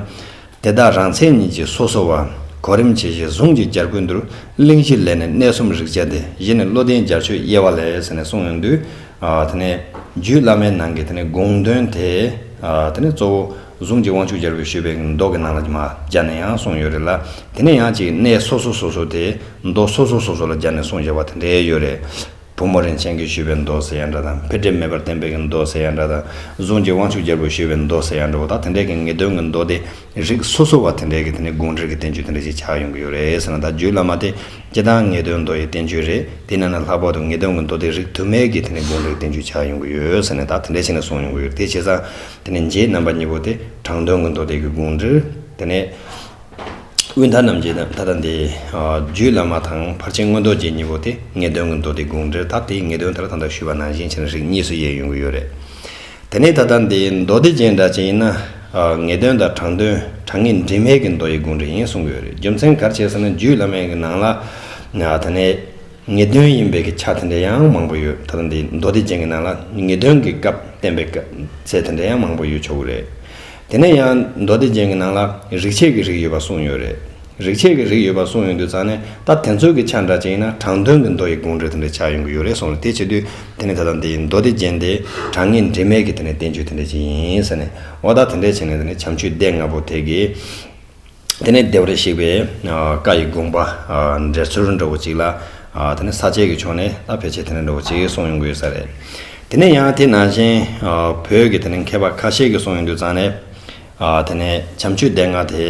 དེ་དག་རང་མཚན་ཉིད་ཀྱིས་སོ་སོ་བ། གོ་རིམ་ཇི་བཞིན་གཟུངས་ཀྱི་རྒྱར་ཀུན་འདུར། གླིང་བཞི་ལས་ནི་གནས་གསུམ་རིག་བྱེད་དེ། བཞི་ནི་བློ་ལྡན་རྒྱར་ཆོས་དབྱེ་བ་ལས། ཟེར་ནས་གསུངས་ཡོང་དུས། དེ་ནས། རྒྱུད་བླ་མའི་ནང་གི་དེ་ནས་དགོངས་དོན་དེ། དེ་ནས་གཙོ་བོ། གཟུངས་ཀྱི་དབང་ཕྱུག་རྒྱལ་པོས་ཞུས་པའི་མདོ་གི་ནང་ལ་ཀྱི་མ། སྦྱར་ནས་ཡང་གསུངས་ཡོད་རེད་ལ། དེ་ནས་ཡང་གཅིག་གནས་སོ་སོ་སོ་སོ་དེ། མདོ་སོ་སོ་སོ་སོ་ལ་སྦྱར་ནས་གསུངས་ཞེས་པ་དེ་འདྲའི་ཡོད་རེད། བུ་མོ་རིན་ཆེན་གྱིས་ཞུས་པའི་མདོ་སེ་ཡ་འདྲ་དང་ཕལ་ཆེར་མེད་པར་བསྟན་པའི་གི་མདོ་སེ་ཡ་འདྲ་དང་གཟུངས་ཀྱི་དབང་ཕྱུག་རྒྱལ་པོས་ཞུས་པའི་མདོ་སེ་ཡ་འདྲ་བོ་དག་དེ་འདྲའི་གི་ངེས་དོན་གྱི་མདོ་སྡེ་རིགས་སོ་སོ་བ་དེ་འདྲའི་གི་དེ་ནི་དགོངས་འགྲེལ་གྱི་བསྟན་བཅོས་དེ་འདྲ་ཞིག་ཆགས་ཡོང་གི་ཡོད་རེད་ཟེར་ན་ད་རྒྱུད་བླ་མ་དེ་སྤྱི་དང་ངེས་དོན་མདོ་ཡི་བསྟན་བཅོས་རེད་དེ་ནས་ན་ལྷག་པར་དུ་ངེས་དོན་གྱི་མདོ་སྡེ་རིགས་དུ་མའི་གི་དེ་ནི་དགོངས་འགྲེལ་གྱི་བསྟན་བཅོས་ཆགས་ཡོང་གི་ཡོད་ཟེར་ནས་ད་དེ་འདྲའི་ཆེད་ནས་གསུངས་ཡོང་གི་ཡོད་རེད་དེ་བྱས་ཙང་དེ་ནི་རྗེའི་རྣམ་པ་གཉིས་པོ་དེ་དྲང་དོན་གྱི་མདོ་སྡེ་གི་དགོངས་འགྲེལ་དེ་ནི། དབུས་མཐའ་རྣམས་ཀྱི་མཐའ་དང་དེ་རྒྱུད་བླ་མ་དང་ཕར་ཕྱིན་སྔོན་རྡོ་རྗེ་གཉིས་པོ་དེ་ངེས་དོན་གྱི་མདོ་སྡེ་དགོངས་འགྲེལ་དག་དེའི་ངེས་དོན་ལྟར་དང་དག་ཞུས་པ་ནང་བཞིན་ཆེན་རིགས་གཉིས་སུ་དབྱེ་ཡོང་གི་ཡོད་རེད། དེ་ནས་ད་ལྟ་འདི་མདོ་སྡེ་རྗེས་འདྲ་ཅན་ཡིན་ན། ངེས་དོན་དང་དྲང་དོན་དྲང་ངེས་འདྲིས་མེད་ཀྱི་མདོ་ཡི་དགོངས་འགྲེལ་ཡིན་གསུང་གི་ཡོད་རེད་རྒྱུ་མཚན་གར་བྱས་ཟེར་ན་རྒྱུད་བླ་མའི་གི་ནང་ལ། དེ་ནས་ངེས་དོན་ཡིན་པའི་གི་ཆ་དེ་འདྲ་ཡང་མང་པོ་ཡོད་ད་ལྟ་འདི་མདོ་སྡེ་རྗེས་ཀྱི་ནང་ལ་ངེས་དོན་གྱི་སྐབས་བསྟན་པའི་སྐབས་ཚད་དེ་འདྲ་ཡང་མང་པོ་ཡོད་ཆོག་གི་རེད། དེ་ནས་ཡང་མདོ་སྡེ་ཅན་གྱི་ནང་ལ་རིག་བྱེད་ཀྱི་རིགས་ཡོད་པ་གསུངས་ཡོད་རེད། རིག་བྱེད་ཀྱི་རིགས་ཡོད་པ་གསུངས་ཡོད་འདུག་ཙང་ནས་ད་དེ་ཚོད་ཀྱི་ཆ་འདྲ་ཅན་ཡིན་ན་དྲང་དོན་གྱི་མདོ་ཡི་དགོངས་འགྲེལ་དེ་འདྲ་ཆགས་ཡོང་གི་ཡོད་རེད་གསུངས་རེད་དེ་བྱེད་དུས་དེ་ནས་ད་ལྟ་འདི་མདོ་སྡེ་ཅན་དེ་དྲང་ངེས་འབྲེལ་མེད་ཀྱི་དེ་ནས་བསྟན་བཅོས་དེ་འདྲ་ཅན་ཡིན་ཟེར་ནས་འོ་ད་དེ་འདྲ་བྱས་ནས་དེ་ནས་བྱམས་ཆོས་སྡེ་ལྔ་པོ་དེ་གའི། དེ་ནས་ལྡེ་བར་གཤེགས་པས་བཀའ་ཡི་དགོངས་པ་འགྲེལ་ཚུལ་འདྲ་བོ་ཅིག་ལ། དེ་ནས་ས་བཅད་ཀྱི་ཕྱོགས་ནས་ལ་ཕལ་ཆེར་དེ་ནས་འདྲ་བོ་ཅིག་གསུངས་ཡོང་དགོས་ས་རེད། དེ་ནས་ཡང་དེ་ནང་བཞིན་བོད་ཀྱི་དེ་ནས་མཁས་པ་ཁ་ཤས་ཀྱིས་གསུངས་ཡོང་དུས་ཙང་ནས། དེ་ནས་བྱམས་ཆོས་སྡེ་ལྔ་དེ་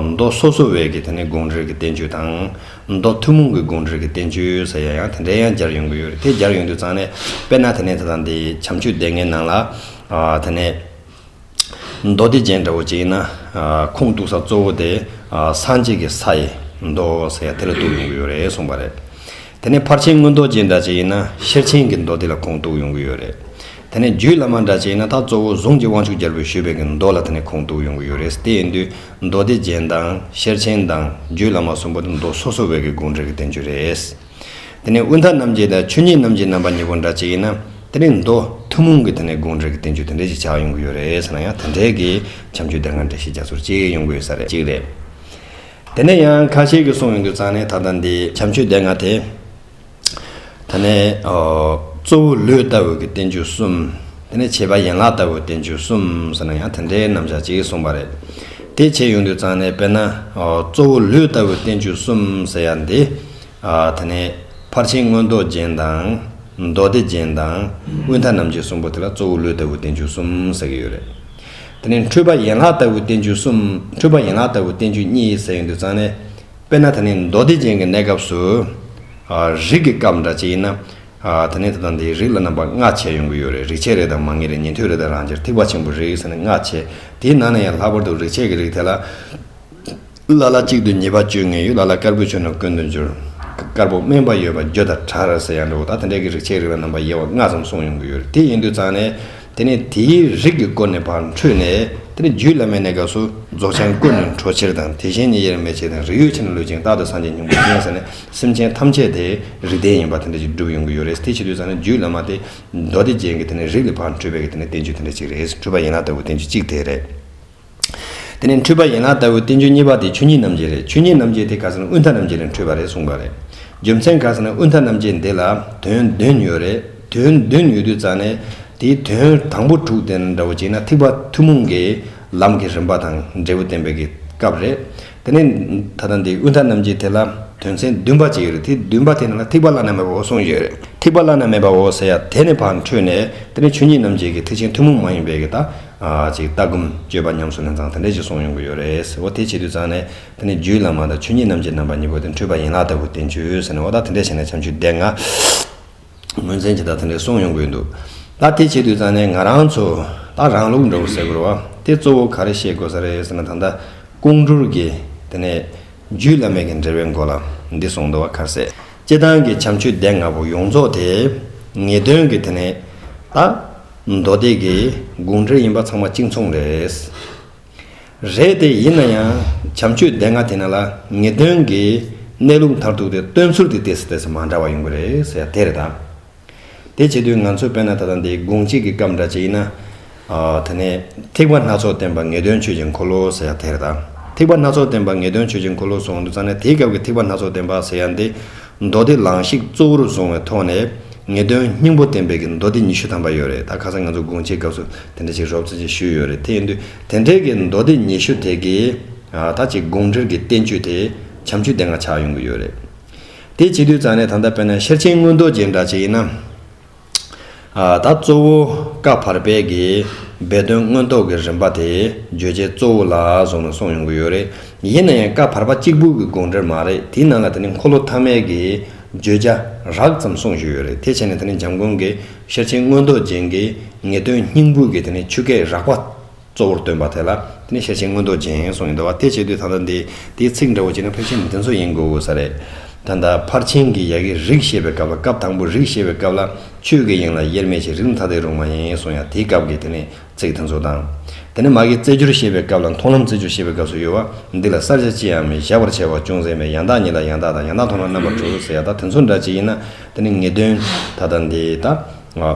མདོ་སོ་སོ་བས་ཀྱི་དེ་ནས་དགོངས་འགྲེལ་གྱི་བསྟན་བཅོས་དང། མདོ་ཐུན་མོང་གི་དགོངས་འགྲེལ་གྱི་བསྟན་བཅོས་ས་ཡ་ཡང་དེ་འདྲའི་ཡང་སྦྱར་ཡོང་གི་ཡོད་རེད་དེ་སྦྱར་ཡོང་དུས་ཙང་ནས་དཔེར་ན་དེ་ནས་དེ་དང་དེ་བྱམས་ཆོས་སྡེ་ལྔའི་ནང་ལ་དེ་ནས། མདོ་སྡེ་ཅན་འདྲ་བོ་ཅིག་ཡིན་ན། ཁུངས་གཏུགས་ས་གཙོ་བོ་དེ་སངས་རྒྱས་ཀྱི་ས་ཡི་མདོ་ཟེར་ཡ་དེ་ལ་གཏུགས་ཡོང་གི་ཡོད་རེད་གསུངས་པ་རེད། དེ་ནས་ཕར་ཕྱིན་དངོས་མདོ་ཅན་འདྲ་ཅིག་ཡིན་ན་ཤེར་ཕྱིན་གྱི་མདོ་དེ་ལ་ཁུངས་གཏུགས་ཡོང་གི་ཡོད་རེད། དེ་ནས་རྒྱུད་བླ་མ་འདྲ་ཅིག་ཡིན་ན་ད་གཙོ་བོ་གཟུངས་ཀྱི་དབང་ཕྱུག་རྒྱལ་པོས་ཞུས་པའི་གི་མདོ་ལ་དེ་ནས་ཁུངས་གཏུགས་ཡོང་གི་ཡོད་རེད་དེ་ཡིན་དུས་མདོ་སྡེ་ཅན་དང་ཤེར་ཕྱིན་དང་རྒྱུད་བླ་མ་གསུམ་པོ་དེ་མདོ་སོ་སོ་བས་གི་དགོངས་འགྲེལ་གྱི་བསྟན་བཅོས་རེད། དེ་ནས་དབུས་མཐའ་རྣམ་འབྱེད་དང་ཆོས་ཉིད་རྣམ་འབྱེད་རྣམ་པ་གཉིས་པོ་འདྲ་གཅིག་ཡིན་ན། དེ་ནས་མདོ་ཐུན་མོང་གི་དེ་ནས་དགོངས་འགྲེལ་གྱི་བསྟན་བཅོས་དེ་འདྲའི་ཞིག་ཆགས་ཡོང་གི་ཡོད་རེད་ཟེར་ན་ཡང་དེ་འདྲའི་གི་བྱམས་ཆོས་སྡེ་འགའ་འདྲ་ཞིག་རྒྱ་མཚོར་སྐྱེ་ཡོང་གི་ཡོད་ས་རེད་གཅིག་རེད། དེ་ནས་ཡང་ཁ་ཤས་ཀྱིས་གསུངས་ཡོང་དུས་ཙང་ནས་ད་ལྟ་འདི་བྱམས་ཆོས་སྡེ་འགའ་དེ། ད་ནས་གཙོ་བོ་ལུས་ལྟ་བུ་གི་བསྟན་བཅོས་གསུམ། དེ་ནས་བྱེད་པ་ཡན་ལག་ལྟ་བུ་བསྟན་བཅོས་གསུམ་ཟེར་ན་ཡང་དེ་འདྲའི་རྣམ་གཞག་ཅིག་གསུངས་པ་རེད། དེ་བྱས་ཡོང་དུས་ཙང་ནས་དཔེར་ན་གཙོ་བོ་ལུས་ལྟ་བུ་བསྟན་བཅོས་གསུམ་ཟེར་ཡ་འདི། དེ་ནས་ཕར་ཕྱིན་མངོན་རྟོགས་རྒྱན་དང། མདོ་སྡེ་རྒྱན་དང། དབུས་མཐའ་རྣམ་འབྱེད་གསུམ་པོ་དེ་ལ་གཙོ་བོ་ལུས་ལྟ་བུ་བསྟན་བཅོས་གསུམ་ཟེར་གྱི་ཡོད་རེད། དེ་ནས་འཁྲུལ་པ་ཡན་ལག་ལྟ་བུ་བསྟན་བཅོས་གསུམ་འཁྲུལ་པ་ཡན་ལག་ལྟ་བུ་བསྟན་བཅོས་གཉིས་ཟེར་གྱི་འདུག་ཙང་ནས། དཔེར་ན་ད་ནི་མདོ་སྡེ་རྒྱན་གྱི་གནས་སྐབས་སུ། རིགས་ཀྱི་སྐབས་འདྲ་གཅིག་ཡིན་ན། ད་ནི་དེ་དང་དེའི་རིགས་ལ་རྣམ་པ་ལྔ་བྱས་ཡོང་གི་ཡོད་རེད་རིག་བྱེད་རེ་དང་མ་ངེས་རེ་ཉན་ཐོས་རེ་དང་རང་ཅེར་ཐིགས་པ་ཆེན་པོ་རེ་ཟེར་ནས་ལྔ་བྱས་དེའི་ནང་ནས་ཡང་ལྷག་པར་དུ་རིག་བྱེད་ཀྱི་རིགས་དེ་ལ། ལ་ལ་གཅིག་ཏུ་ཉེས་པ་བཅོས་ངེས་ཡོད་ལ་ལ་དཀར་པོའི་ཆོས་རྣམས་ཀུན་དུ་འགྱུར། དཀར་པོ་དམན་པ་ཡོད་པ་འགྱོད་དང་བྲག་ར་ཟེར་ཡང་འགྲོ་ད་དེ་འདྲའི་གི་རིགས་ཆའི་རིགས་ལ་རྣམ་པ་དབྱེ་བ་ལྔ་ཙམ་གསུངས་ཡོང་གི་ཡོད་རེད་དེ་ཡིན་དུས་ཙང་ནས་དེ་ནས་དེའི་རིགས་ཀྱི་སྐོར་ནས་བར་འཕྲོས་ནས་དེ་ནས་རྒྱུད་བླ་མའི་གནས་སྐབས་སུ་རྫོགས་ཆེན་ཀུན་ནས་འཕྲོ་ཕྱིར་དང་དེ་བཞིན་ཉིད་དབྱེར་མེད་ཆེ་དང་རིགས་ཡོད་ཕྱིར་ན་ལུས་ཅན་རྟག་ཏུ་སངས་རྒྱས་སྙིང་པོ་ཅན་ཟེར་ནས་སེམས་ཅན་ཐམས་ཅད་དེའི་རིགས་ལྡན་ཡིན་པ་དེ་འདྲ་ཅིག་བསྒྲུབས་ཡོང་གི་ཡོད་རེད་དེ་བྱེད་དུས་ཙང་ནས་རྒྱུད་བླ་མ་དེ་མདོ་སྡེ་རྒྱན་གྱི་དེ་ནས་རིགས་ལས་བར་འཕྲོས་པའི་གི་དེ་ནས་བསྟན་བཅོས་དེ་འདྲ་ཅིག་རེད་འཕྲོས་པ་ཡིན་ན་ལྟ་བུ་བསྟན་བཅོས་གཅིག་དེ་རེད། དེ་ནས་འཁྲུལ་པ་ཡན་ལག་ལྟ་བུའི་བསྟན་བཅོས་གཉིས་པ་དེ་ཆོས་ཉིད་རྣམ་འབྱེད་རེད་ཆོས་ཉིད་རྣམ་འབྱེད་དེ་ག་ས་ན་དབུས་མཐའ་རྣམ་འབྱེད་ལས་འཕྲོས་པ་རེད་གསུངས་པ་རེད། རྒྱུ་མཚན་ག་ས་ན་དབུས་མཐའ་རྣམ་འབྱེད་འདི་ལ་དོན་བདུན་ཡོད་རེད་དོན་བདུན་ཡོད་དུས་རྩ་ནས་དེའི་དོན་དང་པོ་དྲུག་དེ་འདྲ་བོ་གཅིག་ན་ཐིགས་པ་ཐུན་མོང་གི་ལམ་གྱི་རིམ་པ་དང་འབྲས་བུ་བསྟན་པའི་སྐབས་རེད། དེ་ནས་ད་ལྟ་འདི་དབུས་མཐའ་རྣམ་འབྱེད་དེ་ལ་དོན་ཚན་བདུན་པ་ཅིག་ཡོད་རེད་དེ་བདུན་པ་དེ་ནང་ལ་ཐིགས་པ་བླ་ན་མེད་པའོ་གསུངས་ཡོད་རེད་ཐིགས་པ་བླ་ན་མེད་པའོ་ཟེར་ཡ་དེ་ནས་བར་འཕྲོས་ནས་དེ་ནས་ཆོས་ཉིད་རྣམ་འབྱེད་ཀྱི་ཐེག་ཆེན་ཐུན་མོང་མ་ཡིན་པའི་གི་ཅིག་ལྟ་སྒོམ་སྤྱོད་པ་ཉམས་སུ་ལེན་ཚང་དེ་འདྲས་ཅིག་གསུངས་ཡོང་གི་ཡོད་རེད་འོ་དེ་བྱེད་དུས་ཚང་ནས་དེ་ནས་རྒྱུད་བླ་མ་དང་ཆོས་ཉིད་རྣམ་འབྱེད་རྣམ་པ་གཉིས་པོ་དེ་འཕྲོས་པ་ཡན་ལག་ལྟ་བུ་བསྟན་བཅོས་ཟེར་ནས་འོ་ད་དེ་འདྲས་བྱས་ནས་བྱམས་ཆུས་སྡེ་ལྔ། ངོས་འཛིན་བྱེད་ད་ཐེངས་རེ་སོང་ཡོང་དགོས་འདུག་ད་དེ་བྱེད་དུས་ཙང་ནས་ང་རང་ཚོ་ད་རང་ལུགས་འདྲ་བོ་ཟེར་དགོས་རེད་བ་དེ་གཙོ་བོ་ག་རེ་ཤེས་དགོས་ས་རེད་ཟེར་ན་ད་ལྟ་ཀོང་སྤྲུལ་གྱི་དེ་ནས་རྒྱུད་བླ་མེད་ཀྱི་འབྲེལ་བའི་མགོ་ལ་འདི་སོང་འདི་བ་ཁ་ཟས་སྤྱི་བཏང་གི་བྱམས་ཆོས་སྡེ་ལྔ་པོ་ཡོངས་རྫོགས་དེ་ངེས་དོན་གྱི་དེ་ནས་ད་མདོ་སྡེ་དགེ་དགུང་འབྲེལ་ཡིན་པ་ཚང་མ་གཅིག་མཚུངས་རེད། རེད་དེ། ཡིན་ན་ཡང་བྱམས་ཆོས་སྡེ་ལྔ་དེ་ན་ལ་ངེས་དོན་གྱི་གནས་ལུགས་མཐར་ཐུག་དེ་སྟོན་ཚུལ་དེ་དེ་སུ་དེ་སུ་མ་འདྲ་བ་ཡོང་གི་རེད་ཟེར་ཡ་དེ་རེད་ད། དེ་བྱེད་དུས་ང་ཚོས་དཔེར་ན་ད་ལྟ་འདི་དགུང་གཅིག་གི་སྐབས་འདྲ་བྱས་ཡིན་ན། དེ་ནས་ཐེག་པ་སྣ་ཚོགས་བསྟན་པ་ངེས་དོན་ཆོས་ཀྱི་འཁོར་ལོ་ཟེར་ཡ་དེ་རེད་ད། ཐེག་པ་སྣ་ཚོགས་བསྟན་པ་ངེས་དོན་ཆོས་ཀྱི་འཁོར་ལོ་སོང་འདུག་ཙང་ནས་དེའི་སྐབས་ཀྱི་ཐེག་པ་སྣ་ཚོགས་བསྟན་པ་ཟེར་ཡ་འདི་མདོ་སྡེ་བླངས་ཤིག་གཙོ་བོར་བཟུང་བའི་ཐོག་ནས་ངེས་དོན་སྙིང་པོ་བསྟན་པའི་གི་མདོ་སྡེ་ཉི་ཤུ་ཐམ་པ་ཡོད་རེད་ད་ཁ་སང་ང་ཚོ་དགོང་ཕྱིའི་སྐབས་སུ་དེ་འདྲ་ཞིག་རོབ་ཙེ་ཅིག་ཞུས་ཡོད་རེད་དེ་ཡིན་དུས་དེ་འདྲའི་གི་མདོ་སྡེ་ཉི་ཤུ་དེ་གི་ད་ཅིག་དགོངས་འགྲེལ་གི་བསྟན་བཅོས་དེ་བྱམས་བརྒྱུད་དེ་འང་ཆགས་ཡོང་གི་ཡོད་རེད་དེ་བྱེད་དུས་རྩ་ནས་ད་ལྟ་དཔེར་ན་ཤེར་ཕྱིན་མངོན་རྟོགས་ཅན་འདྲ་ཅིག་ཡིན་ན། ད་གཙོ་བོ་བཀའ་བར་པའི་གི་སྦས་དོན་མངོན་རྟོགས་ཀྱི་རིམ་པ་དེ་བརྗོད་བྱའི་གཙོ་བོ་ལ་བཟུང་ནས་སོང་ཡོང་གི་ཡོད་རེད། ཡིན་ན་ཡང་བཀའ་བར་པ་གཅིག་པུ་གི་དགོངས་འགྲེལ་མ་རེད་དེའི་ནང་ལ་དེ་ནི་འཁོར་ལོ་ཐ་མའི་གི་བརྗོད་བྱ་རགས་ཙམ་གསུངས་ཞུས་ཡོད་རེད་དེ་བྱས་ནས་དེ་ནི་འཇམ་མགོན་གྱི་ཤེར་ཕྱིན་མངོན་རྟོགས་རྒྱན་གྱི་ངེས་དོན་སྙིང་པོའི་གི་དེ་ནི་ཆུ་སྐྱེས་རགས་པ། གཙོ་བོར་སྟོན་པ་དེ་ལ་དེ་ནི་ཤེར་ཕྱིན་མངོན་རྟོགས་ཅན་གསུངས་ཡོད་འདུག་བ་དེ་བྱེད་དུས་ད་ལྟ་འདི་དེའི་ཚིག་འདྲ་བོ་བྱས་ན་ཕལ་ཆེར་འདི་ཚོ་ཡིན་དགོས་ས་རེད། ད་ལྟ་ཕར་ཕྱིན་གྱི་ཡ་གི་རིགས་བཤད་པའི་སྐབས་ལ་སྐབས་དང་པོའི་རིགས་བཤད་པའི་སྐབས་ལ་ཆོས་ཀྱི་དབྱིངས་ལ་དབྱེར་མེད་ཅིག་རིགས་མཐའ་དེ་རུང་བ་ཡིན་གསུངས་ཡ་དེའི་སྐབས་ཀྱི་དེ་ནི་ཚིག་དེ་ཚོ་དང། དེ་ནི་མ་གི་རྩེ་སྦྱོར་བཤད་པའི་སྐབས་ལ་མཐོང་ལམ་རྩེ་སྦྱོར་བཤད་པའི་སྐབས་སུ་ཡོད་བ་འདི་ལ་གསར་བྱ་ཅི་ཡང་མི་བཞག་པར་བྱས་བ་ཅུང་ཟད་མེད་ཡང་དག་ཉིད་ལ་ཡང་དག་དང་ཡང་དག་མཐོང་ལམ་རྣམ་པར་གྲོལ་ཟེར་ཡ་དག་དེ་ཚོ་འདྲ་ཅིག་ཡིན་ན་དེ་ནི་ངེས་དོན་ད་ལྟ་འདི་ད།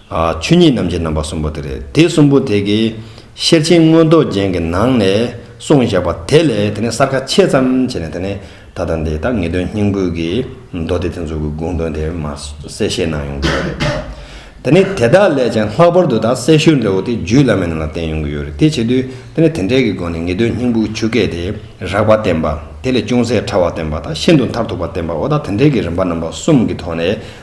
ཆོས་ཉིད་རྣམ་བཞི་རྣམ་པ་གསུམ་པོ་དེ་རེད། དེ་གསུམ་པོ་དེ་གའི་ཤེར་ཕྱིན་མངོན་རྟོགས་རྒྱན་གྱི་ནང་ནས་གསུངས་བཞག་པ་དེ་ལས་དེ་ནས་གསར་ཁ་ཕྱེས་ཙམ་བྱས་ནས་དེ་ནས་ད་ལྟ་འདི་ལྟར་ངེས་དོན་སྙིང་པོའི་གི་མདོ་སྡེ་དེ་ཚོ་གི་དགོངས་དོན་དེ་མ་གསལ་བཤད་གནང་ཡོང་གི་ཡོད་རེད། དེ་ནས་དེ་དག་ལས་ཀྱང་ལྷག་པར་དུ་དག་གསལ་ཤོས་འདྲ་བོ་དེ་རྒྱུད་བླ་མའི་ནང་ལ་བསྟན་ཡོང་གི་ཡོད་རེད་དེ་བྱེད་དུས་དེ་ནས་དེ་འདྲའི་གི་སྒོ་ནས་ངེས་དོན་སྙིང་པོའི་ཆུ་སྐད་དེ་རགས་པ་བསྟན་པ་དེ་ལས་ཅུང་ཟད་ཕྲ་བ་བསྟན་པ་དང་ཤིན་ཏུ་མཐར་ཐུག་པ་བསྟན་པའོ་ད་དེ་འདྲའི་གི་རིམ་པ་རྣམ་པ་གསུམ་གི་ཐོག་ནས་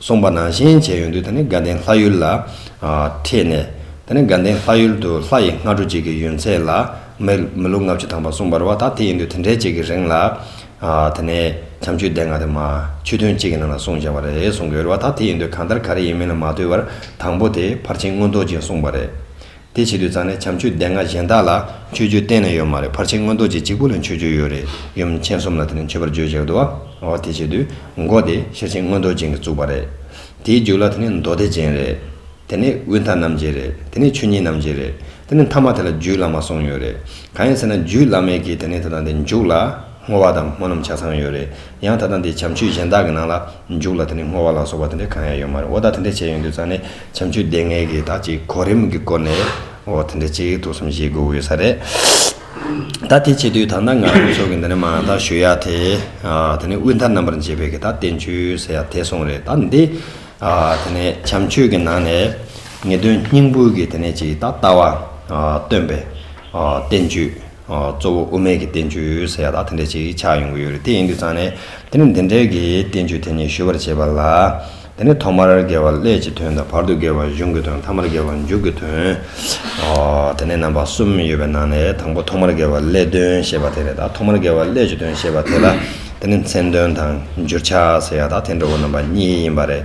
གསུངས་པ་ནང་བཞིན་བྱས་ཡོང་དུས་ད་ནི་དགའ་ལྡན་ལྷ་ཡུལ་ལ་འཁྲིད་ནས། ད་ནི་དགའ་ལྡན་ལྷ་ཡུལ་དུ་ལྷ་ཡི་སྔ་དྲོ་གཅིག་གི་ཡུན་ཚད་ལ། མི་ལོ་ལྔ་བཅུ་ཐམ་པ་གསུངས་པར་བ་ད་དེ་ཡིན་དུས་དེ་འདྲའི་གཅིག་གི་རིང་ལ། ད་ནི་བྱམས་ཆོས་སྡེ་ལྔ་དེ་མ། ཆོས་ཐུན་གཅིག་གི་ནང་ལ་གསུངས་བཞག་པ་རེད་གསུངས་གི་ཡོད་རེད་བ་ད་དེ་ཡིན་དུས་གང་ལྟར་ག་རེ་ཡིན་མིན་ལ་མ་ལྟོས་པར་དང་པོ་དེ་ཕར་ཕྱིན་སྔོན་རྡོ་རྗེས་གསུངས་པ་རེད། དེ་བྱེད་དུས་ཙང་ནས་བྱམས་ཆོས་སྡེ་ལྔ་གཞན་དག་ལ་མཆོད་བརྗོད་གཏན་ནས་ཡོད་མ་རེད་ཕར་ཕྱིན་སྔོན་རྡོ་རྗེ་གཅིག་པུ་ལ་མཆོད་བརྗོད་ཡོད་རེད་ཡུམ་མཁྱེན་གསུམ་ལ་དེ་ནས་མཆོད་པར་བརྗོད་བྱེད་དུ་བ་དེ་བྱེད་དུས་མགོ་དེ་ཤེར་ཕྱིན་སྔོན་རྡོ་རྗེ་གིས་བཙུགས་པ་རེད་དེའི་རྒྱུགས་ལ་དེ་ནས་མདོ་སྡེ་ཅན་རེད་དེ་ནས་དབུས་མཐའ་རྣམ་རྒྱལ་རེད་དེ་ནས་ཆོས་ཉིད་རྣམ་རྒྱལ་རེད་དེ་ནས་མཐའ་མ་དེ་ལ་རྒྱུད་བླ་མ་གསུང་ཡོད་རེད་གང་ཡིན་ཟེར་ན་རྒྱུད་བླ་མའི་གིས་དེ་ནས་དེ་དང་དེ་མཇུག་ལ་བསྔོ་བ་དང་སྨོན་ལམ་ཆ་ཚང་ཡོད་རེད། ཡང་ད་ལྟ་འདི་བྱམས་ཆོས་གཞན་དག་གི་ནང་ལ་འཇུག་ལ་དེ་ནས་བསྔོ་བ་ལ་སོགས་པ་དེ་འདྲ་གང་ཡང་ཡོད་མ་རེད་འོ་ད་དེ་འདྲ་བྱས་ཡོང་དུས་ཙང་ནས་བྱམས་ཆོས་སྡེ་ལྔའི་གི་དག་ཅིག་གོ་རིམ་གི་སྐོར་ནས་འོ་དེ་འདྲ་ཅིག་ཐུགས་བསམ་བཞེས་དགོས་འོས་ས་རེད། ད་དེ་བྱས་དུས་ད་ནངས་ང་རང་ཚོ་གི་འདི་ནས་མ་ད་ཞུ་ཡག་དེ་དེ་ནས་དབུས་མཐའ་རྣམ་པར་འབྱེད་པའི་གི་དག་བསྟན་བཅོས་ཟེར་ཡག་དེ་སོང་རེད་ད་འདི་དེ་ནས་བྱམས་ཆོས་གི་ནང་ནས་ངེས་དོན་སྙིང་པོའི་གི་དེ་ནས་ཅིག་ད་ལྟ་བ་སྟོན་པའི་བསྟན་བཅོས། གཙོ་བོ་དབུ་མེད་ཀྱི་བསྟན་བཅོས་ཟེར་ཡག་དག་དེ་འདྲས་ཅིག་ཆགས་ཡོང་གི་ཡོད་རེད་དེ་ཡིན་དུས་ཙང་ནས་དེ་ནས་འདི་འདྲས་ཀྱི་བསྟན་བཅོས་དེ་ཉིད་ཞུ་བར་བྱེད་པ་ལ། དེ་ནས་ཐོག་མར་དགེ་བ་སླད་ཀྱི་དོན་དང་བར་དུ་དགེ་བ་གཞུང་གི་དོན་མཐའ་མར་དགེ་བ་མཇུག་གི་དོན། དེ་ནས་རྣམ་པ་གསུམ་ཡོད་པའི་ནང་ནས་དང་པོ་ཐོག་མར་དགེ་བ་སླད་དོན་ཞེས་པ་དེ་རེད་ད་ཐོག་མར་དགེ་བ་སླད་ཀྱི་དོན་ཞེས་པ་དེ་ལ་དེ་ནས་མཚན་དོན་དང་འགྱུར་ཆགས་ཟེར་ཡག་དག་དེ་འདྲ་བོ་རྣམ་པ་གཉིས་ཡིན་པ་རེད་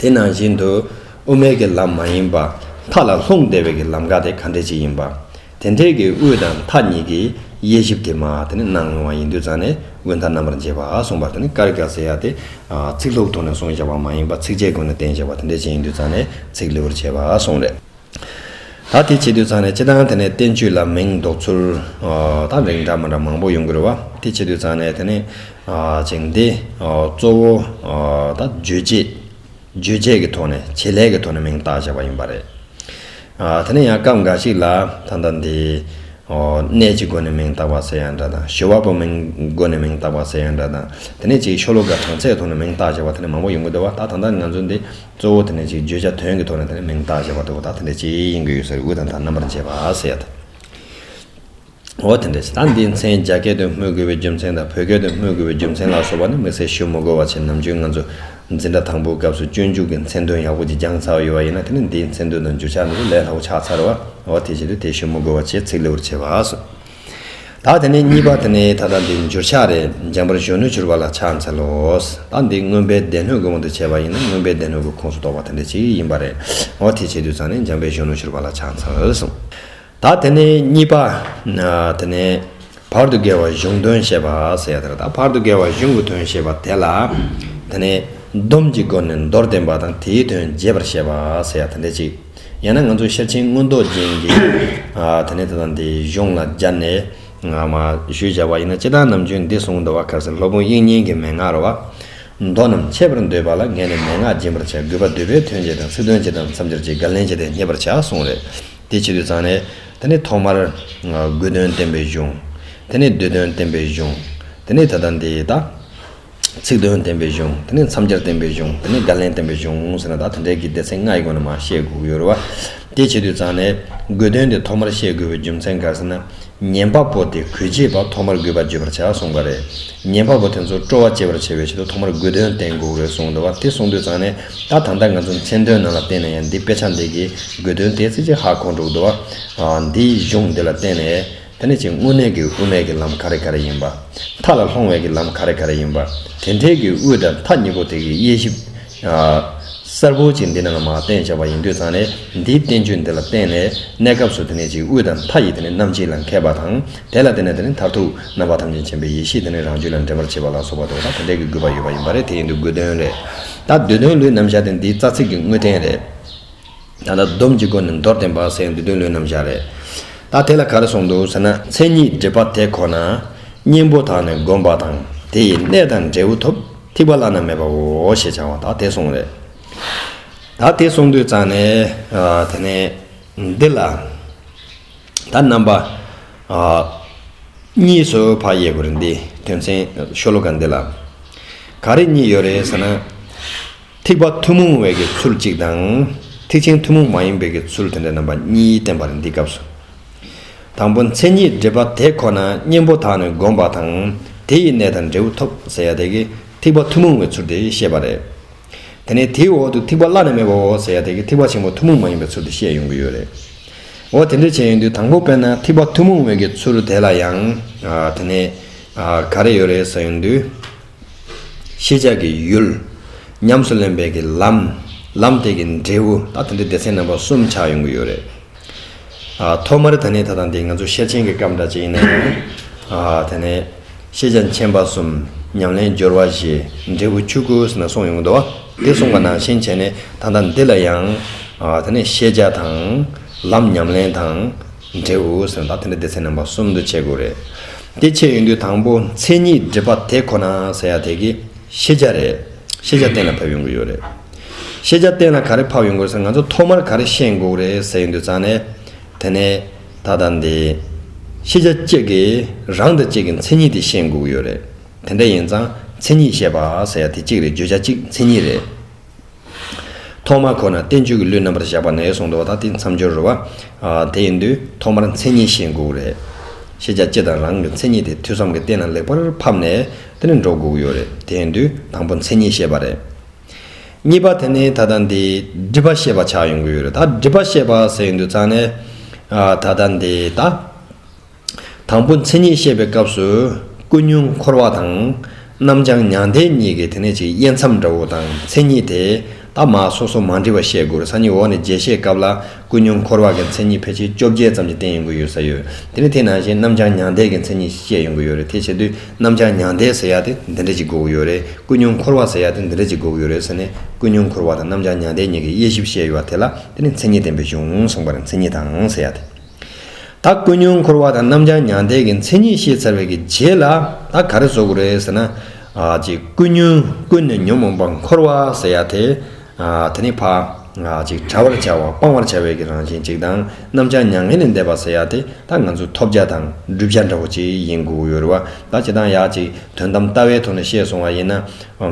དེ་ནང་བཞིན་དུ། དབུ་མེད་ཀྱི་ལམ་མ་ཡིན་པ། མཐའ་ལ་ལྷུང་བདེ་བའི་ཀྱི་ལམ་ཀ་དེ་ག་འདྲས་ཅིག་ཡིན་པ། དེ་འདྲས་ཀྱི་དབུས་དང་མཐའ་གཉིས་ཀྱི་དབྱེ་ཞིབ་དེ་མ་དེ་ནི་གནང་ཡོང་བ་ཡིན་དུས་ཙང་ནས་དབུས་མཐའ་རྣམ་པར་འབྱེད་པ་གསུངས་པ་དེ་ནི་ཀར་ཀ་ཟེར་ཡ་དེ། ཚིག་ལྷུག་ཐུག་ནས་གསུངས་བཞག་པ་མ་ཡིན་པ་ཚིགས་བཅད་ཀུན་ལ་བསྟན་བཞག་པ་དེ་འདྲས་ཅིག་ཡིན་དུས་ཙང་ནས་ཚིག་ལེའུར་བྱས་པ་གསུངས་རེད། ད་དེ་བྱེད་དུས་ཚང་ནས་ཅི་དང་དེ་ནས་བསྟན་བཅོས་ལ་མིང་འདོགས་ཚུལ་དང་རིང་འདྲ་མ་འདྲ་མང་པོ་ཡོང་གི་རེད་བ། དེ་བྱེད་དུས་ཚང་ནས་དེ་ནས་ཅིང་དེ་གཙོ་བོ་དང་བརྗོད་བྱེད་རྗོད་བྱེད་ཀྱི་ཐོག་ནས་བྱེད་ལས་ཀྱི་ཐོག་ནས་མིང་བཏགས་བཞག་པ་ཡིན་པ་རེད། དེ་ནས་ཡང་སྐབས་འགའ་ཞིག་ལ་ད་ལྟ་འདི་གནས་ཀྱི་སྒོ་ནས་མིང་བཏགས་པ་ཟེར་ཡང་འདྲ་དང་ཞོལ་བ་པོ་མིང་སྒོ་ནས་མིང་བཏགས་པ་ཟེར་ཡང་འདྲ་དང་དེ་ནས་ཅིག་ཤོ་ལོ་ཀ་གྲངས་ཚད་ཐོག་ནས་མིང་བཏགས་བཞག་པ་དེ་ནས་མང་པོ་ཡོང་གི་འདུག་བ་ད་ད་ལྟ་ང་ཚོ་འདི་གཙོ་བོ་དེ་ནི་གཅིག་བརྗོད་བྱ་དོན་གྱི་ཐོག་ནས་དེ་ནི་མིང་བཏགས་བྱས་པ་དེའོ་ད་དེ་འདྲའི་སྤྱིའི་དབྱིངས་ཀྱི་ཡུལ་ཟེར་དབུས་དང་དང་རྣམ་པར་འབྱེད་པ་ཟེར་ཡ་དང། འོ་དེ་འདྲས་ད་འདིའི་མཚན་རྒྱ་སྐད་དུ་སྨོས་དགོས་པའི་རྒྱུ་མཚན་དང་བོད་སྐད་དུ་སྨོས་དགོས་པའི་རྒྱུ་མཚན་ལ་སོགས་པ་ནི་མི་ཚེ་ཞོ་མོ་གོ་བ་ཆེ་ནམ་ཅོན་ང་ཚོ་འཛིན་གྲྭ་དང་པོའི་སྐབས་སུ་སྤྱོད་འཇུག་གི་མཚན་དོན་ཡག་པོ་གཅིག་རྒྱང་ཚར་བ་ཡོད་པ་ཡིན་ན་དེ་ནི་འདིའི་མཚན་དོན་དང་བརྗོད་བྱ་ནི་ལས་སླ་བོ་ཆགས་ཚར་བ་འོ་དེ་བཞིན་དུ་དེ་ཞོ་མོ་གོ་བ་ཆེ་ཚིག་ལེའུར་བྱས་པ་སོགས། དག་དེ་ནས་གཉིས་པ་དེ་ནི་ད་ལྟ་འདི་འགྱུར་ཆགས་རེད་སྦྱངས་པར་གཞོན་ནུ་གྱུར་པ་ལ་ཕྱག་འཚལ་ལོ། ད་འདི་རྔོན་པའི་སྡེ་སྣོད་དགོས་མོ་དེ་བྱས་པ་ཡིན་ན་རྔོན་པའི་སྡེ་སྣོད་ཀྱི་ཁོངས་སུ་གཏོགས་པ་དེ་འདྲ་ཅིག་ཡིན་པ་རེད་ངོ་དེ་བྱས་དུས་ཚང་ནས་སྦྱངས་པའི་གཞོན་ནུ་གྱུར་པ་ལ་ཕྱག་འཚལ་གསུངས། དག་དེ་ནས་གཉིས་པ་དེ་ནི་བར་དུ་བརྒལ་བ་གཞུང་དོན་བཤད་པ་ཟེར་ཡ་དེ་རེད་ད་བར་དུ་བརྒལ་བ་གཞུང་གི་དོན་བཤད་པ་དེ་ལ་དེ་ནི་སྡོམ་གྱི་སྒོ་ནས་མདོར་བསྟན་པ་དང་དེའི་དོན་རྒྱས་པར་བཤད་པ་ཟེར་ཡ་དེ་འདྲ་ཅིག། ཡང་ན་ང་ཚོ་ཤེར་ཕྱིན་མངོན་རྟོགས་ཅན་གྱི་དེ་ནས་ད་དང་དེ་གཞུང་ལ་སྦྱར་ནས་ཞུས་བྱ་བ་ཡིན་ན་ཅི་ལྟར་ནམ་རྒྱུན་འདི་གསུངས་འདུག་བ་གར་སེར་ལྷོ་དཔུང་དབྱིག་གཉེན་གྱི་མན་ངག་རོ། མདོ་རྣམས་འཆད་པར་འདོད་པ་ལ་ངས་ནི་མན་ངག་སྦྱིན་པར་བྱ་གུས་པ་འདུས་པས་དོན་ཅི་དང་ཚིག་དོན་ཅི་དང་མཚམས་སྦྱར་གྱི་བརྒལ་ལན་བྱས་ཏེ་རྙེད་པར་བྱ་གསུངས་རེ། དེ་ཕྱི་དུས་ཚང་ནས། དེ་ནས་ཐོག་མར། དགོས་དོན་བསྟན་པའི་གཞུང། དེ་ནས་འདོད་དོན་བསྟན་པའི་གཞུང། དེ་ནས་ད་དང་དེ་ད། ཚིག་དོན་བསྟན་པའི་གཞུང་དེ་ནས་མཚམས་སྦྱར་བསྟན་པའི་གཞུང་དེ་ནས་བརྒལ་ལན་བསྟན་པའི་གཞུང་ཟེར་ན་ད་དེ་འདྲའི་གི་དེ་ཚེ་ལྔའི་སྒོ་ནས་མ་བཤད་དགོས་ཡོད་རེད་བ། དེ་བྱེད་དུས་ཙང་ནས་དགོས་དོན་དེ་ཐོག་མར་བཤད་དགོས་པའི་རྒྱུ་མཚན་ག་ཟེར་ན། ཉན་པ་པོ་དེ་གོས་བྱེད་པ་ཐོག་མར་དགོས་པ་བརྗོད་པར་བྱ་གསུངས་པ་རེད། ཉན་པ་པོ་དེ་ཚོ་སྤྲོ་བ་བསྐྱེད་པར་བྱེད་པའི་ཆེད་དུ་ཐོག་མར་དགོས་དོན་བསྟན་དགོས་རེད་གསུངས་འདུག་བ་དེ་གསུངས་དུས་ཙང་ནས་ད་ད་ལྟ་ང་ཚོ་མཚན་དོན་ནང་ལ་བལྟས་ན་ཡང་འདི་དཔེ་ཆ་འདི་གི་དགོས་དོན་དེ་ཚེ་ཆེ་ཧ་གོ་འགྲོ་གི་འདུག་བ། འདིའི་གཞུང་འདི་ལ་བརྟེན་ནས། དེ་ནི་ཆེས་སྔོན་གནས་ཀྱི་དབུ་མེད་ཀྱི་ལམ་ག་རེ་ག་རེ་ཡིན་པ། མཐའ་ལ་ལྷོང་བས་ཀྱི་ལམ་ག་རེ་ག་རེ་ཡིན་པ། དེ་འཕྲལ་གྱི་དབུས་དང་མཐའ་གཉིས་པོ་དེ་གའི་དབྱེ་ཞིབ། གསལ་པོ་ཅིག་འདི་ནས་ལ་མ་བསྟན་བྱ་བ་ཡིན་དུས་ཚང་ནས་འདིའི་བསྟན་བཅོས་འདི་ལ་བརྟེན་ནས་གནས་སྐབས་སུ་དེ་ནི་ཆེས་དབུས་དང་མཐའ་ཡི་དེ་ནི་རྣམ་འབྱེད་ལ་མཁས་པ་དང། དེ་ལ་བརྟེན་ནས་དེ་ནི་མཐར་ཐུག་རྣམ་པ་ཐམས་ཅད་མཁྱེན་པའི་ཡེ་ཤེས་དེ་ནི་རང་རྒྱུད་ལ་འདྲེན་པར་བྱེད་པ་ལ་སོགས་པ་དེ་དག་གི་དེ་འཕྲལ་གྱི་དགོས་པ་ཡོད་པ་ཡིན་པ་རེད་དེ་ཡིན་དུས་དགོས་དོན་རེད། ད་བསྡུས་དོན་ལུས་རྣམ་བཞག་དེ་འདིའི་རྩ་ཚིག་གི་དངོས་བསྟན་རེད། ད་ལྟ་སྡོམ་གྱི་སྒོ་ནས་མདོར་བསྟན་པ་སའི་འདུལ་དོན་ལུས་རྣམ་བཞག་རེད། ད་དེ་ལ་ག་རེ་གསུངས་འདུག་ཟེར་ན་མཚན་ཉིད་སྒྲིབ་པ་དེ་ཁོ་ན་གཉེན་པོ་དག་ནས་བསྒོམ་པ་དང་དེ་ཡི་གནས་དང་འབྲས་བུ་ཐོབ་ཐིག་པ་བླ་ན་མེད་པའོ་ཞེས་བྱ་བ་ད་དེ་གསུངས་རེད། ད་དེ་གསུངས་དུས་ཙང་ནས་དེ་ནས་འདི་ལ་ད་རྣམ་པ་གཉིས་སུ་བག་ཡས་དགོས་རེད་འདི་དོན་ཚན་ཤོ་ལོ་ཀ་འདི་ལ་ག་རེ་གཉིས་ཡོད་རེད་ཟེར་ན། ཐིགས་པ་ཐུན་མོང་བའི་ཀྱི་ཚུལ་གཅིག་དང། ཐིགས་ཆེན་ཐུན་མོང་མ་ཡིན་པའི་ཀྱི་ཚུལ་དེ་འདྲ་རྣམ་པ་གཉིས་བསྟན་པར་འདི་སྐབས་སུ། དང་པོ་མཚན་ཉིད་སྒྲིབ་པ་དེ་ཁོ་ན་གཉེན་པོ་དག་ནི་བསྒོམ་པ་དང་དེ་ཡི་གནས་དང་འབྲས་བུ་ཐོབ་ཟེར་ཡ་དེ་ཀྱི་ཐིགས་པ་ཐུན་མོང་བའི་ཚུལ་དེ་བཤད་པ་རེད། དེ་ནས་དེའི་འོག་ཏུ་ཐིགས་པ་བླ་ན་མེད་པའོ་ཟེར་ཡ་དེ་ཀྱི་ཐིགས་པ་ཆེན་པོ་ཐུན་མོང་མ་ཡིན་པའི་ཚུལ་དུ་བཤད་ཡོང་གི་ཡོད་རེད། འོ་དེ་འདྲ་བྱས་ཡོང་དུས་དང་པོ་དཔེར་ན་ཐིགས་པ་ཐུན་མོང་བའི་ཀྱི་ཚུལ་དེ་ལ་ཡང། དེ་ནས། ག་རེ་ཡོད་རེད་ཟེར་ཡོང་དུས། ཤེས་བྱ་ཀྱི་ཡུལ། ཉམས་སུ་ལེན་པའི་གི་ལམ། ལམ་དེ་གི་འབྲས་བུ། ད་ཐེངས་འདིར་སྡེ་ཚན་རྣམ་པ་གསུམ་ཆགས་ཡོང་གི་ཡོད་རེད། ཨ། ཐོག་མར་ད་ནི་ད་དང་འདི་ང་ཚོ་ཤེར་ཕྱིན་གྱི་སྐབས་འདྲ་ཅིག་ཡིན་ན་ཡང། ཨ། ད་ནི། ཤེས་བྱ་མཁྱེན་པ་གསུམ། ཉམས་ལེན་སྦྱོར་བ་བཞི། འབྲས་བུ་བཅུ་དགུ་ཟེར་ན་གསུངས་ཡོང་གི་འདུག་བ། འདིར་གསུངས་པ་ནང་བཞིན་བྱས་ནས་ད་ལྟ་འདི་ལ་ཡང། ཨ། ད་ནི་ཤེས་བྱ་དང། ལམ་ཉམས་ལེན་དང། འབྲས་བུ་ཟེར་ན་ད་དེ་འདྲ་སྡེ་ཚན་རྣམ་པ་གསུམ་དུ་ཕྱེ་དགོས་རེད། དེ་ཕྱེ་ཡོང་དུས་དང་པོ་མཚན་ཉིད་སྒྲིབ་པ་དེ་ཁོ་ན་ཟེར་ཡག་དེ་གི་ཤེས་བྱ་རེད། ཤེས་བྱ་གཏན་ལ་ཕབ་ཡོང་གི་ཡོད་རེད། ཤེས་བྱ་གཏན་ལ་ག་རེ་ཕབ་ཡོང་དགོས་ཟེར་ང་ཚོ་ཐོག་མར་ག་རེ་ཤེས་འགོག་རེད་ཟེར་ཡོང་དུས་ཙང་ནས་དེ་ནས་ད་ལྟ་འདི། ཤེས་བྱ་གཅིག་གིས་རང་དང་གཅིག་གི་མཚན་ཉིད་དེ་ཤེས་འགོག་གི་ཡོད་རེད། དེ་འདྲ་ཡིན་ཙང་མཚན་ཉིད་ཤེས་པ་ཟེར་ཡག་དེ་གཅིག་རེད་བརྗོད་བྱ་གཅིག་མཚན་ཉིད་རེད། ཐོག་མར་ཁོ་ན་བསྟན་བཅོས་ཀྱི་གླུའི་རྣམ་པར་བཞག་པ་ནས་གསུང་དུ་བ་དག་སྟེ་མཚམས་སྦྱོར་རོལ་བ། དེ་ཡིན་དུས་ཐོག་མར་མཚན་ཉིད་བཞེངས་དགོས་ཀྱི་རེད། ཤེས་བྱ་སྤྱི་དང་རང་གི་མཚན་ཉིད་དེ་ཐོས་བསམ་གྱི་སྟེང་ན་ལེགས་པར་ཕབ་ནས་དེ་ནས་འགྲོ་དགོས་ཀྱི་ཡོད་རེད། དེ་ཡིན་དུས་དང་པོ་མཚན་ཉིད་བཤད་པ་རེད། གཉིས་པ་དེ་ནི་ད་ལྟ་འདི་སྒྲིབ་པ་ཤེས་པ་ཆགས་ཡོང་གི་ཡོད་རེད་ད་སྒྲིབ་པ་ཤེས་པ་ཟེར་ཡོང་དུས་རྩ་ནས། ད་ལྟ་འདི་ད། དང་པོ་མཚན་ཉིད་བཤད་པའི་སྐབས་སུ། ཀུན་ཉུང་འཁོར་བ་དང། རྣམ་བྱང་མྱང་འདས་གཉིས་ཀྱི་དེ་ནས་ཅིག་དབྱེ་མཚམས་འདྲ་བོ་དང་མཚན་ཉིད་དེ་དག་མ་སོ་སོ་མ་འདྲེས་པ་བཤད་དགོས་རུང་སང་ཉིན་འོག་ནས་རྒྱས་བཤད་སྐབས་ལ་ཀུན་ཉུང་འཁོར་བ་གི་མཚན་ཉིད་ཕལ་ཆེར་བཅོ་བརྒྱད་ཙམ་གྱི་སྟེང་ཡོང་གི་ཡོད་ས་ཡོད། དེ་ནས་དེ་ནང་བཞིན་རྣམ་བྱང་མྱང་འདས་ཀྱི་མཚན་ཉིད་བཤད་ཡོང་གི་ཡོད་རེད་དེ་བྱེད་དུས་རྣམ་བྱང་མྱང་འདས་ཟེར་ཡག་དེ་འདི་འདྲ་ཅིག་དགོས་ཀྱི་ཡོད་རེད་ཀུན་ཉུང་འཁོར་བ་ཟེར་ཡག་དེ་འདི་འདྲ་ཅིག་དགོས་ཀྱི་ཡོད་རེད་ཟེར་ནས་ཀུན་ཉུང་འཁོར་བ་དང་རྣམ་བྱང་མྱང་འདས་གཉིས་ཀྱི་དབྱེ་ཞིབ་བཤད་ཡོད་བ་དེ་ལ་དེ་ནི་མཚན་ཉིད་བསྟན་པའི་གཞུང་གསུངས་པར་མཚན་ཉིད་དང་ཟེར་ཡག་དེ། ད་ཀུན་སྙུང་འཁོར་བ་དང་རྣམ་བྱང་མྱང་འདས་ཀྱི་མཚན་ཉིད་ཤེས་ཚར་བའི་གི་རྗེས་ལ་ད་ག་རེ་བཟོ་དགོས་རེད་ཟེར་ན། གཅིག་ཀུན་སྙུང་ཀུན་ནས་ཉོན་མོངས་པ་འཁོར་བ་ཟེར་ཡ་དེ། དེ་ནི་འཕགས། གཅིག་བྲལ་བར་བྱ་བ་སྤང་བར་བྱ་བའི་གི་རང་བཞིན་གཅིག་དང་རྣམ་བྱང་མྱ་ངན་ལས་འདས་པ་ཟེར་ཡ་དེ་ད་ང་ཚོ་ཐོབ་བྱ་དང་བསྒྲུབ་བྱ་འདྲ་བོ་གཅིག་ཡིན་དགོས་ཡོད་རེད་བ་ད་བྱེད་སྟངས་ཡག་གཅིག་དོན་དམ་ལྟ་བའི་ཐོག་ནས་བཤད་སོང་བ་ཡིན་ན།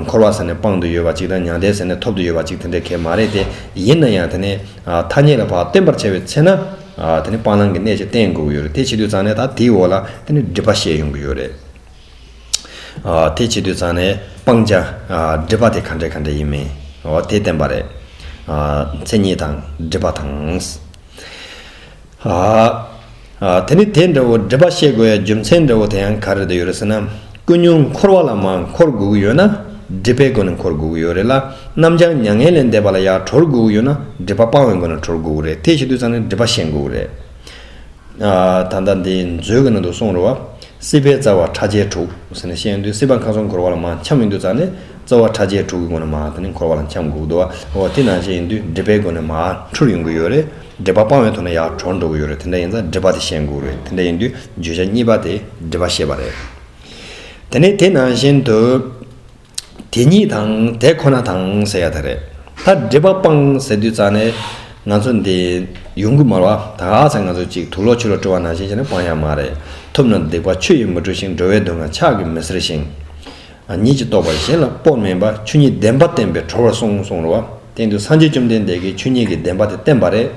འཁོར་བ་ཟེར་ནས་སྤང་དུ་ཡོད་པ་གཅིག་དང་མྱང་འདས་ཟེར་ནས་ཐོབ་ཏུ་ཡོད་པ་གཅིག་དེ་འདྲའི་གལ་མ་རེད་དེ་ཡིན་ན་ཡང་དེ་ནི། ཐ་སྙད་ལ་བར་བསྟན་པར་བྱ་བའི་ཚེ་ན། དེ་ནི་སྤང་བླང་གི་གནད་ཅེས་བསྟན་དགོས་ཀྱི་ཡོད་རེད་དེ་བྱེད་དུས་ཚང་ནས་ད་དེའི་འོག་ལ་དེ་ནི་སྒྲིབ་པ་བཤད་ཡོང་གི་ཡོད་རེད། དེ་བྱེད་དུས་ཚང་ནས་སྤང་བྱ། སྒྲིབ་པ་དེ་ག་འདྲའི་ག་འདྲའི་ཡིན་མིན། དེ་བསྟན་པ་རེད། མཚན་ཉིད་དང་སྒྲིབ་པ་དང། དེ་ནི་དེ་འདྲ་བོ་སྒྲིབ་པ་ཤེས་དགོས་ཡ་རྒྱུ་མཚན་འདྲ་བོ་དེ་ཡང་ག་རེ་དུ་ཡོད་རེད་ཟེར་ན། ཀུན་སྙུང་འཁོར་བ་ལ་མ་འཁོར་དགོས་ཀྱི་ཡོད་ན། སྒྲིབ་པའི་སྒོ་ནས་འཁོར་དགོས་ཀྱི་ཡོད་རེད་ལ། རྣམ་བྱང་མྱ་ངན་ལས་འདས་པ་ལ་ཡང་གྲོལ་དགོས་ཀྱི་ཡོད་ན་སྒྲིབ་པ་སྤང་བའི་སྒོ་ནས་གྲོལ་དགོས་ཀྱི་རེད་དེ་ཞིག་དུས་ཚང་ནས་སྒྲིབ་པ་ཞེན་དགོས་ཀྱི་རེད། ད་ལྟ་འདི་མཛོད་ཀྱི་ནང་དུ་གསུང་རོགས། སྲིད་པའི་རྩ་བ་ཕྲ་རྒྱས་དྲུག་ཟེར་ནས་བཤད་ཡོང་དུས་སྲིད་པ་མཁའ་གསུམ་འཁོར་བ་ལ་མ་འཁྱམས་ཡིན་དུས་ཚང་ནས་རྩ་བ་ཕྲ་རྒྱས་དྲུག་གི་སྒོ་ནས་མ་འཁོར་བ་ལ་འཁྱམས་དགོས་ཀྱི་འདུག་འོ་དེ་ནང་བཞིན་ཡིན་དུས་སྒྲིབ་པའི་སྒོ་ནས་མ་འཁྲུལ་ཡོང་གི་ཡོད་རེད། འགྲེལ་པ་སྤང་བའི་ཐོག་ནས་ཡར་གྲོངས་འགྲོ་གི་ཡོད་རེད་དེ་འདྲ་ཡིན་ཙང་འགྲེལ་པ་དེ་བཤད་འགུག་རེད་དེ་འདྲ་ཡིན་དུས་བརྗོད་བྱ་གཉིས་པ་དེ་འགྲེལ་པ་བཤད་པ་རེད། དེ་ནས་དེ་ནང་བཞིན་དུ། དེ་གཉིས་དང་དེ་ཁོ་ན་དང་ཟེར་ཡ་དེ་རེད། ད་འགྲེལ་པ་སྤང་ཟེར་དུས་ཙང་ནས་ང་ཚོ་འདི་ཡོང་གི་མར་བ་ད་ག་ཚད་ང་ཚོ་ཅིག་དུག་ལོག་ཆུ་ལོག་བཀྲུ་བ་ནང་བཞིན་ཅི་ནས་སྤང་ཡ་མ་རེད་ཐུབ་ན་སྡིག་པ་ཆུ་ཡིས་མི་བཀྲུ་ཞིང་འགྲོ་བའི་སྡུག་བསྔལ་ཆགས་ཀྱི་མི་ཟེར་ཞིང། ཉིད་ཀྱིས་རྟོགས་པར་གཞན་ལ་སྤོབས་མེད་པར་ཆོས་ཉིད་བདེན་པ་བསྟན་པའི་གྲོགས་ལ་སོང་གསུངས་རོ། སྟེང་དུ་སངས་རྒྱས་བཅོམ་ལྡན་འདས་ཀྱིས་ཆོས་ཉིད་ཀྱི་བདེན་པ་དེ་བསྟན་པ་རེད།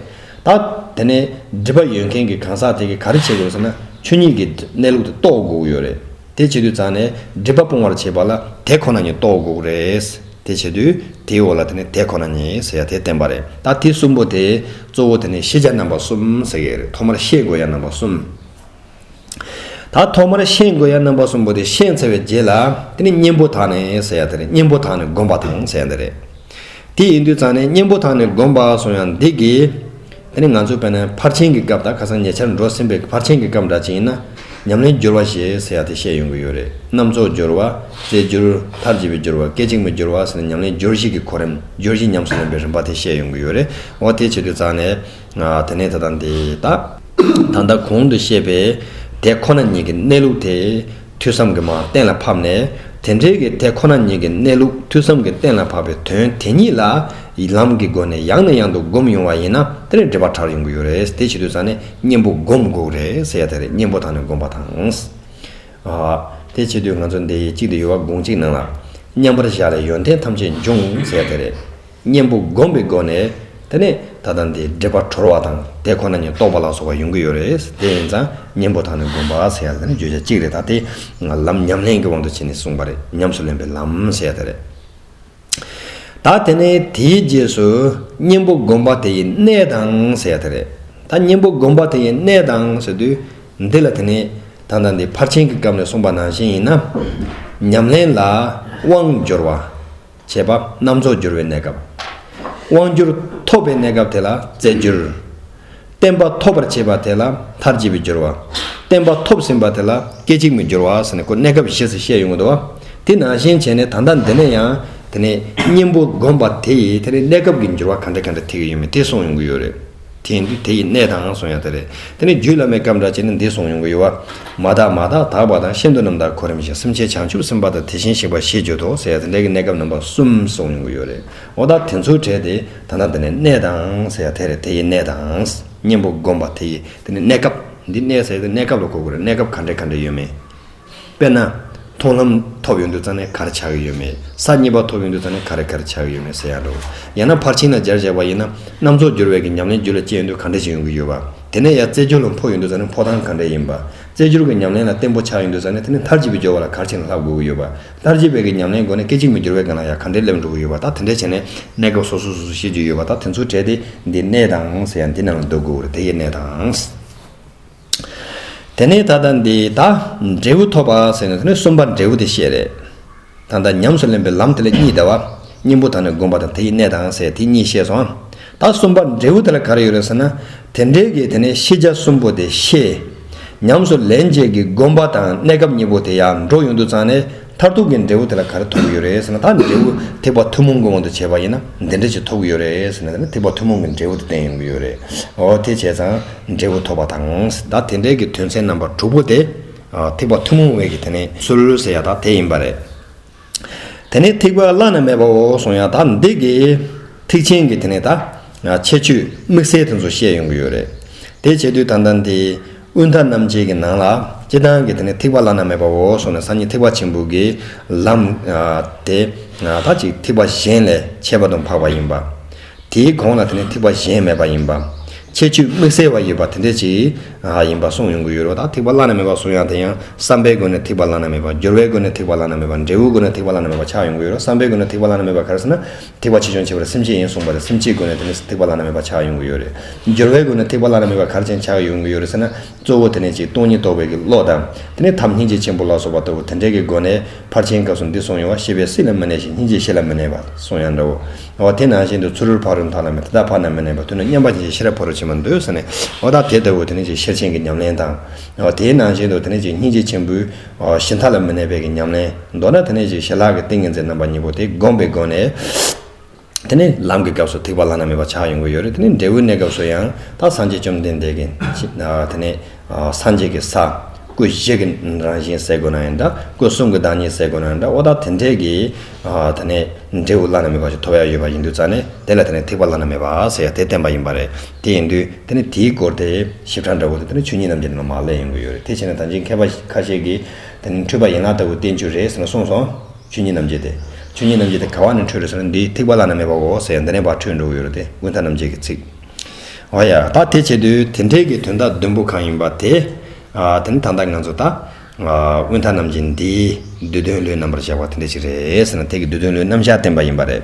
ད་དེ་ནས་སྒྲིབ་པ་ཡོད་མཁན་གྱི་གང་ཟག་དེ་གིས་ག་རེ་བྱེད་དགོས་ཟེར་ན་ཆོས་ཉིད་ཀྱི་གནས་ལུགས་དེ་རྟོགས་དགོས་ཀྱི་ཡོད་རེད། དེ་བྱེད་དུས་རྩ་ནས་སྒྲིབ་པ་སྤོང་བར་བྱེད་པ་ལ་དེ་ཁོ་ན་ཉིད་རྟོགས་དགོས་ཀྱི་རེད། དེ་བྱེད་དུས་དེའི་འོག་ལ་དེ་ནས་དེ་ཁོ་ན་ཉིད་ཟེར་ཡ་དེ་བསྟན་པ་རེད། ད་དེ་གསུམ་པོ་དེ་གཙོ་བོ་དེ་ནས་ཤེས་བྱ་རྣམ་པ་གསུམ་ཟེར་གྱི་ཡོད་རེད་ཐོག་མར་ཤེས་དགོས་ཡ་རྣམ་པ་གསུམ། ད་ཐོག་མར་ཤེས་དགོས་ཡ་རྣམ་པ་གསུམ་པོ་དེ་ཤེས་ཚར་བའི་རྗེས་ལ་དེ་ནི་གཉེན་པོ་དག་ནས་ཟེར་ཡ་དེ་རེད་གཉེན་པོ་དག་ནས་བསྒོམ་པ་དང་ཟེར་ཡ་འདི་རེད། དེ་ཡིན་དུས་ཙང་ནས་གཉེན་པོ་དག་ནས་བསྒོམ་པ་སོང་ཡ་འདི་གི། དེ་ནི་ང་ཚོ་བས་ན་ཕར་ཕྱིན་གྱི་སྐབས་དང་ཁ་སང་ཉེ་ཆར་འགྲོ་ཟིན་པའི་ཕར་ཕྱིན་གྱི་སྐབས་འདྲ་ཅིག་ཡིན་ན། ཉམས་ལེན་སྦྱོར་བ་ཞེས་ཟེར་ཡ་དེ་བཤད་ཡོང་གི་ཡོད་རེད་རྣམ་རྫོགས་སྦྱོར་བ། རྩེ་སྦྱོར། མཐར་བྱེད་པའི་སྦྱོར་བ་སྐད་ཅིག་མའི་སྦྱོར་བ་ཟེར་ནས་ཉམས་ལེན་སྦྱོར་བཞི་གི་གོ་རིམ་སྦྱོར་བཞི་ཉམས་སུ་ལེན་པའི་རིམ་པ་དེ་བཤད་ཡོང་གི་ཡོད་རེད་འོ་དེ་བྱེད་དུས་ཙང་ནས། དེ་ནས་ད་ལྟ་འདི་དག། ད་ལྟ་གོང་དུ་བཤད་པའི་དེ་ཁོ་ན་ཉིད་ཀྱི་གནས་ལུགས་དེ་ཐོས་བསམ་གྱི་མ་གཏན་ལ་ཕབ་ནས་དེ་འབྲེལ་གྱི་དེ་ཁོ་ན་ཉིད་ཀྱི་གནས་ལུགས་ཐོས་བསམ་གྱི་གཏན་ལ་ཕབ་པའི་དོན་དེ་ཉིད་ལ་ལམ་གྱི་སྒོ་ནས་ཡང་ནས་ཡང་དུ་བསྒོམ་ཡོང་བ་ཡིན་ན་དེ་ནས་འབྲེལ་པ་དྲག་ཡོང་གི་ཡོད་རེད་དེ་བྱེད་དུས་ས་ནས་གཉེན་པོ་བསྒོམ་དགོས་རེད་ཟེར་ཡ་དེ་རེད་གཉེན་པོ་དང་ནས་བསྒོམ་པ་དང། དེ་བྱེད་དུས་ང་ཚོ་འདི་གཅིག་དུ་ཡོད་བ་དགོངས་གཅིག་གནང་ལ། མཉམ་པར་བཞག་ལས་ཡོན་ཏན་ཐམས་ཅད་འབྱུང་ཟེར་ཡ་དེ་རེད། གཉེན་པོ་བསྒོམས་པའི་སྒོ་ནས་དེ་ནས་ད་ལྟ་འདིའི་སྒྲིབ་པ་གྲོལ་བ་དང་དེ་ཁོ་ན་ཉིད་རྟོགས་པ་ལ་སོགས་པ་ཡོང་གི་ཡོད་རེད་དེ་ཡིན་ཙང་གཉེན་པོ་དང་ནི་བསྒོམ་པ་ཟེར་ཡ་དེ་ནི་བརྗོད་བྱ་གཅིག་རེད་ད་དེ་ང་ལམ་ཉམས་ལེན་གྱི་དབང་དུ་བྱས་ནས་གསུངས་པ་རེད་ཉམས་སུ་ལེན་པའི་ལམ་ཟེར་ཡ་དེ་རེད། ད་དེ་ནས་དེའི་རྗེས་སུ་གཉེན་པོ་བསྒོམ་པ་དེ་ཡི་གནས་དང་ཟེར་ཡ་དེ་རེད་ད་གཉེན་པོ་བསྒོམ་པ་དེ་ཡི་གནས་དང་ཟེར་དུས་འདི་ལ་དེ་ནས་ད་ལྟ་འདི་ཕར་ཕྱིན་གྱི་སྐབས་ནས་གསུངས་པ་ནང་བཞིན་ཡིན་ན། ཉམས་ལེན་ལ་དབང་འབྱོར་བ། བྱེད་པ་རྣམ་རྫོགས་འགྱུར་བའི་གནས་སྐབས། དབང་བསྒྱུར་ཐོབ་པའི་གནས་སྐབས་དེ་ལ་རྩེ་བསྒྱུར། བསྟན་པ་ཐོབ་པར་བྱེད་པ་དེ་ལ་མཐར་བྱེད་པའི་བསྒྱུར་བ། བསྟན་པ་ཐོབ་ཟིན་པ་དེ་ལ་སྐད་ཅིག་མའི་བསྒྱུར་བ་ཟེར་ནས་ཁོ་གནས་སྐབས་བཞི་ཟེར་བཤད་ཡོང་གི་འདུག་དེ་ནང་བཞིན་བྱས་ནས་ད་ལྟ་འདི་ནས་ཡང་དེ་ནས་གཉེན་པོ་བསྒོམ་པ་དེ་ཡིས་དེ་ནས་གནས་སྐབས་ཀྱི་འགྱུར་བ་ག་འདྲ་ག་འདྲ་ཐེག་གི་ཡོད་མེད་དེ་གསུངས་ཡོང་གི་ཡོད་རེད། དེ་འདུས་དེ་ཡི་གནས་དང་གསུང་ཡང་དེ་རེད། དེ་ནི་རྒྱུད་བླ་མའི་སྐབས་འདྲ་ཅན་ནི་འདི་གསུང་ཡོང་གི་ཡོད། བར་མ་དག་མ་དག་དག་པ་དང་ཤིན་ཏུ་རྣམ་དག་གོ་རིམ་བཞིན་སེམས་ཅན་བྱང་ཆུབ་སེམས་དཔའ་དང་དེ་བཞིན་གཤེགས་པ་ཞེས་བརྗོད་དོ་ཟེར་ཡང་དེ་འདྲ་གི་གནས་སྐབས་རྣམ་པ་གསུམ་གསུང་ཡོང་གི་ཡོད་རེད། འོ་ད་དེ་ཚོ་བྲལ་ཏེ་ད་ལྟ་འདི་ནི་གནས་དང་ཟེར་ཡང་དེ་རེད་དེ་ཡི་གནས་དང། གཉེན་པོ་བསྒོམ་པ་དེ་ཡི་དེ་ནི་གནས་སྐབས། འདི་གནས་ཟེར་ཡང་དེ་གནས་སྐབས་ལ་གོ་དགོས་རེད་གནས་སྐབས་ག་འདྲའི་ག་འདྲའི་ཡོད་མེད། དཔེར་ན། མཐོང་ལམ་ཐོབ་ཡོང་དུས་རྩ་ནས་གར་ཆགས་ཀྱི་ཡོད་མེད། ས་གཉིས་པ་ཐོབ་ཡོང་དུས་རྩ་ནས་ག་རེ་གར་ཆགས་ཀྱི་ཡོད་མེད་ཟེར་ཡག་འགྲོ། ཡང་ན་ཕར་ཕྱིན་ལ་སྦྱར་བྱས་པ་ཡིན་ན། རྣམ་རྫོགས་སྦྱོར་བས་ཀྱི་ཉམས་ལེན་རྒྱུད་ལ་སྐྱེས་ཡོང་དུས་ག་འདྲ་ཞིག་ཡོང་གི་ཡོད་པ། དེ་ནས་ཡང་རྩེ་སྦྱོར་ལ་འཕོ་ཡོང་དུས་རྩ་ནས་འཕོ་སྟངས་ག་འདྲ་ཡིན་པ། རྩེ་སྦྱོར་གྱི་ཉམས་ལེན་ལ་བརྟན་པོ་ཆགས་ཡོང་དུས་རྩ་ནས་དེ་ནས་མཐར་གྱིས་པའི་སྦྱོར་བ་ལ་གར་ཕྱིན་ལ་ལྷག་དགོས་ཀྱི་ཡོད་པ། མཐར་གྱིས་པའི་ཀྱི་ཉམས་ལེན་སྒོ་ནས་སྐད་ཅིག་མའི་སྦྱོར་བའི་ག་ལ་ཡང་ག་འདྲས་སླེབས་འགྲོ་གི་ཡོད་པ་དག་དེ་འདྲས་བྱས་ནས་གནས་སྐབས་སོ་སོ་སོ་སོ་ཤེས་རྒྱུ་ཡོད་པ་དག་དེ་ཚོ་བྲལ་ཏེ་འདི་གནས་དང་ཟེར་ཡང་འདི་རྣམས་ལ་འདོད་དགོས་པར་དེ་ཡི་གནས་དང། དེ་ནས་ད་ལྟ་འདི་ད་འབྲས་བུ་ཐོབ་པ་ཟེར་ནས་གསུམ་པ་འབྲས་བུ་དེ་བཤད་རེད། ད་ལྟ་ཉམས་སུ་ལེན་པའི་ལམ་དེ་ལ་གཉིས་བདེ་བ་གཉེན་པོ་དང་ནི་སྒོམ་པ་དང་དེ་ཡི་གནས་དང་ཟེར་དེ་གཉིས་བཤད་སོང། ད་གསུམ་པ་འབྲས་བུ་དེ་ལ་ག་རེ་ཡོད་རེད་ཟེར་ན། དེ་འདྲའི་གི་དེ་ནས་ཤེས་བྱ་གསུམ་པོ་དེ་ཤེས། ཉམས་སུ་ལེན་བྱེད་ཀྱི་སྒོམ་པ་དང་གནས་སྐབས་གཉིས་པོ་དེ་ཡང་འགྲོ་ཡོང་དུ་བརྩང་ནས། མཐར་ཐུག་གི་འབྲས་བུ་དེ་ལ་ག་རེ་ཐོབ་ཀྱི་ཡོད་རེད་ཟེར་ན་ད་ནི་འབྲས་བུ་ཐེག་པ་ཐུན་མོང་གི་དབང་དུ་བྱས་པ་ཡིན་ན་འདི་འདྲ་ཞིག་ཐོབ་ཀྱི་ཡོད་རེད་ཟེར་ན་ད་ནི་ཐེག་པ་ཐུན་མོང་གི་འབྲས་བུ་དེ་བསྟན་ཡོང་གི་ཡོད་རེད། འོ་དེ་བྱས་ཙང་འབྲས་བུ་ཐོབ་པ་དང། ད་དེ་འབྲས་ཀྱི་དོན་ཚན་རྣམ་པ་དྲུག་པོ་དེ། ཐེག་པ་ཐུན་མོང་བས་ཀྱི་དེ་ནི་ཚུལ་ཟེར་ཡག་ད་དེ་ཡིན་པ་རེད། དེ་ནི་ཐེག་པ་བླ་ན་མེད་པའོ་གསུངས་ཡག་ད་འདི་གི། ཐེག་ཆེན་གྱི་དེ་ནི་ད། ཁྱད་ཆོས་དམིགས་བསལ་དེ་ཚོ་བཤད་ཡོང་གི་ཡོད་རེད། དེ་བྱས་དུས་ད་ད་འདི། དབུས་མཐའ་རྣམ་འབྱེད་ཀྱི་ནང་ལ། སྤྱི་དང་གི་དེ་ནི་ཐིགས་པ་བླ་ན་མེད་པའོ་སོགས་ནས་སངས་རྒྱས་ཐེག་པ་ཆེན་པོ་གི་ལམ། དེ་དག་ཅིག་ཐིགས་པ་གཞན་ལས་ཁྱད་པར་དུ་འཕགས་པ་ཡིན་པ། དེའི་གོང་ལ་དེ་ནི་ཐིགས་པ་གཞན་མེད་པ་ཡིན་པ། ཁྱད་ཆོས་དམིགས་བསལ་བ་ཡོད་པ་དེ་འདྲ་ཅིག་ཡིན་པ་གསུངས་ཡོང་གི་ཡོད་རོ། ད་ཐིགས་པ་བླ་ན་མེད་པ་གསུངས་ཡང་དེ་ཡང་བསམ་པའི་སྒོ་ནས་ཐིགས་པ་བླ་ན་མེད་པ། སྦྱོར་བའི་སྒོ་ནས་ཐིགས་པ་བླ་ན་མེད་པ། འབྲས་བུའི་སྒོ་ནས་ཐིགས་པ་བླ་ན་མེད་པ་ཆགས་ཡོང་གི་ཡོད་རོ། བསམ་པའི་སྒོ་ནས་ཐིགས་པ་བླ་ན་མེད་པ་ག་རེ་ཟེར་ན། ཐེག་པ་ཆེ་ཆུང་ཕྱེ་བར་སེམས་བསྐྱེད་ཡིན་གསུངས་པ་ལས་སེམས་བསྐྱེད་དགོས་ན་དེ་ནས་ཐེག་པ་བླ་ན་མེད་པ་ཆགས་ཡོང་གི་ཡོད་རེད། སྦྱོར་བའི་སྒོ་ནས་ཐེག་པ་བླ་ན་མེད་པ་གར་ཅན་ཆགས་ཡོང་གི་ཡོད་རེད་ཟེར་ན་གཙོ་བོ་དེ་ནས་ཅིག་སྟོང་ཉིད་རྟོགས་པའི་གི་བློ་དང། དེ་ནས་ཐབས་སྙིང་རྗེ་ཆེན་པོ་ལ་སོགས་པ་ལྟ་བུ་དེ་འདྲའི་གི་སྒོ་ནས་ཕར་ཕྱིན་སྐབས་སུ་འདི་གསུངས་ཡོང་བ་ཤེས་པས་སྲིད་ལ་མི་གནས་ཤིང་སྙིང་རྗེས་གཤེགས་ལ་མི་གནས་པ་གསུངས་ཡང་འདྲ་བོ། འོ་དེ་ནང་བཞིན་དུ་ཚུ་རུལ་ཕག་རུལ་མཐའ་ལ་མེད་དེ་དག་ཕར་ན་མི་གནས་པ་དུས་ན་མཉམ་པ་ཉིད་ཀྱི་ཤེས་རབ་ཕོ་རུ་ཕྱིན་པར་འདོད་ཟེར་ནས་འོ་ད་དེ་ལྟ་བུ་དེ་ནས་ཅིག་ཤེར་ཕྱིན་གྱི་ཉམས་ལེན་དང། འོ་དེའི་ནང་བཞིན་དུ་དེ་ནས་ཅིག་སྙིང་རྗེ་ཆེན་པོའི་ཞི་མཐའ་ལ་མི་གནས་པའི་ཉམས་ལེན། མདོར་ན་དེ་ནས་ཀྱི་ཞལ་ལག་གི་ཏིང་ངེ་འཛིན་རྣམ་པ་གཉིས་པོ་དེ་བསྒོམས་པའི་སྒོ་ནས། དེ་ནི་ལམ་གྱི་སྐབས་སུ་ཐེག་པ་བླ་ན་མེད་པ་ཆགས་ཡོང་གི་ཡོད་རེད་དེ་ནི་འབྲས་བུའི་གནས་སྐབས་སུ་ཡང་དག་སངས་རྒྱས་བཅོམ་ལྡན་འདས་ཀྱི། དེ་ནི། སངས་རྒྱས་ཀྱི་ས། སྐུ་བཞི་གི་རང་བཞིན་གསལ་དགོས་ན་ཡང་འདྲ། སྐུ་གསུམ་གྱི་བདག་ཉིད་གསལ་དགོས་ན་ཡང་འདྲ་འོ་ད་དེ་འདྲའི་གི། དེ་ནི་འབྲས་བུ་བླ་ན་མེད་པ་ཞིག་ཐོབ་ཡ་ཡོད་པ་ཡིན་དུས་རྩ་ནས་དེ་ལ་དེ་ནི་ཐེག་པ་བླ་ན་མེད་པ་ཟེར་ཡ་དེ་བསྟན་པ་ཡིན་པ་རེད། དེ་ཡིན་དུས་དེ་ནི་དེའི་སྐོར་དེ་ཞིབ་ཕྲ་འདྲ་བོ་དེ་དེ་ནི་ཆོས་ཉིད་རྣམས་ཀྱི་ནང་ན་མ་བསླད་ཡོང་གི་ཡོད་རེད་དེ་བྱས་ན་ད་ཅིང་མཁས་པ་ཁ་ཤས་ཀྱིས་དེ་ནི་འཁྲུལ་པ་ཡན་ལག་ལྟ་བུ་བསྟན་རྒྱུ་རེད་ཟེར་ནས་གསུངས་སོང། ཆོས་ཉིད་རྣམ་འབྱེད་དེ། ཆོས་ཉིད་རྣམ་འབྱེད་དེ་ག་བ་ནས་འཁྲུལ་རེད་ཟེར་ན་འདི་ཐེག་པ་བླ་ན་མེད་པ་འོ་ཟེར་ཡང་འདི་ནས་བར་འཁྲུལ་འགྲོ་གི་ཡོད་རེད་དེ་ཀུན་ད་རྣམ་འབྱེད་ཀྱི་ཚིག་འོ་ཡ། ད་དེ་བྱས་དུས་དེ་འཕྲལ་གྱི་དོན་དག་བདུན་པོ་གང་ཡིན་པ་དེ། དེ་ནི་ད་ལྟ་ང་ཚོ་ད། ཀུན་ད་རྣམ་འབྱེད་འདིའི་བསྡུས་དོན་བློའི་རྣམ་པར་བཞག་པ་དེ་འདྲ་ཞིག་རེད་ཟེར་ན་ཐེག་གི་བསྡུས་དོན་བློའི་རྣམ་བཞག་བསྟན་པ་ཡིན་པ་རེད།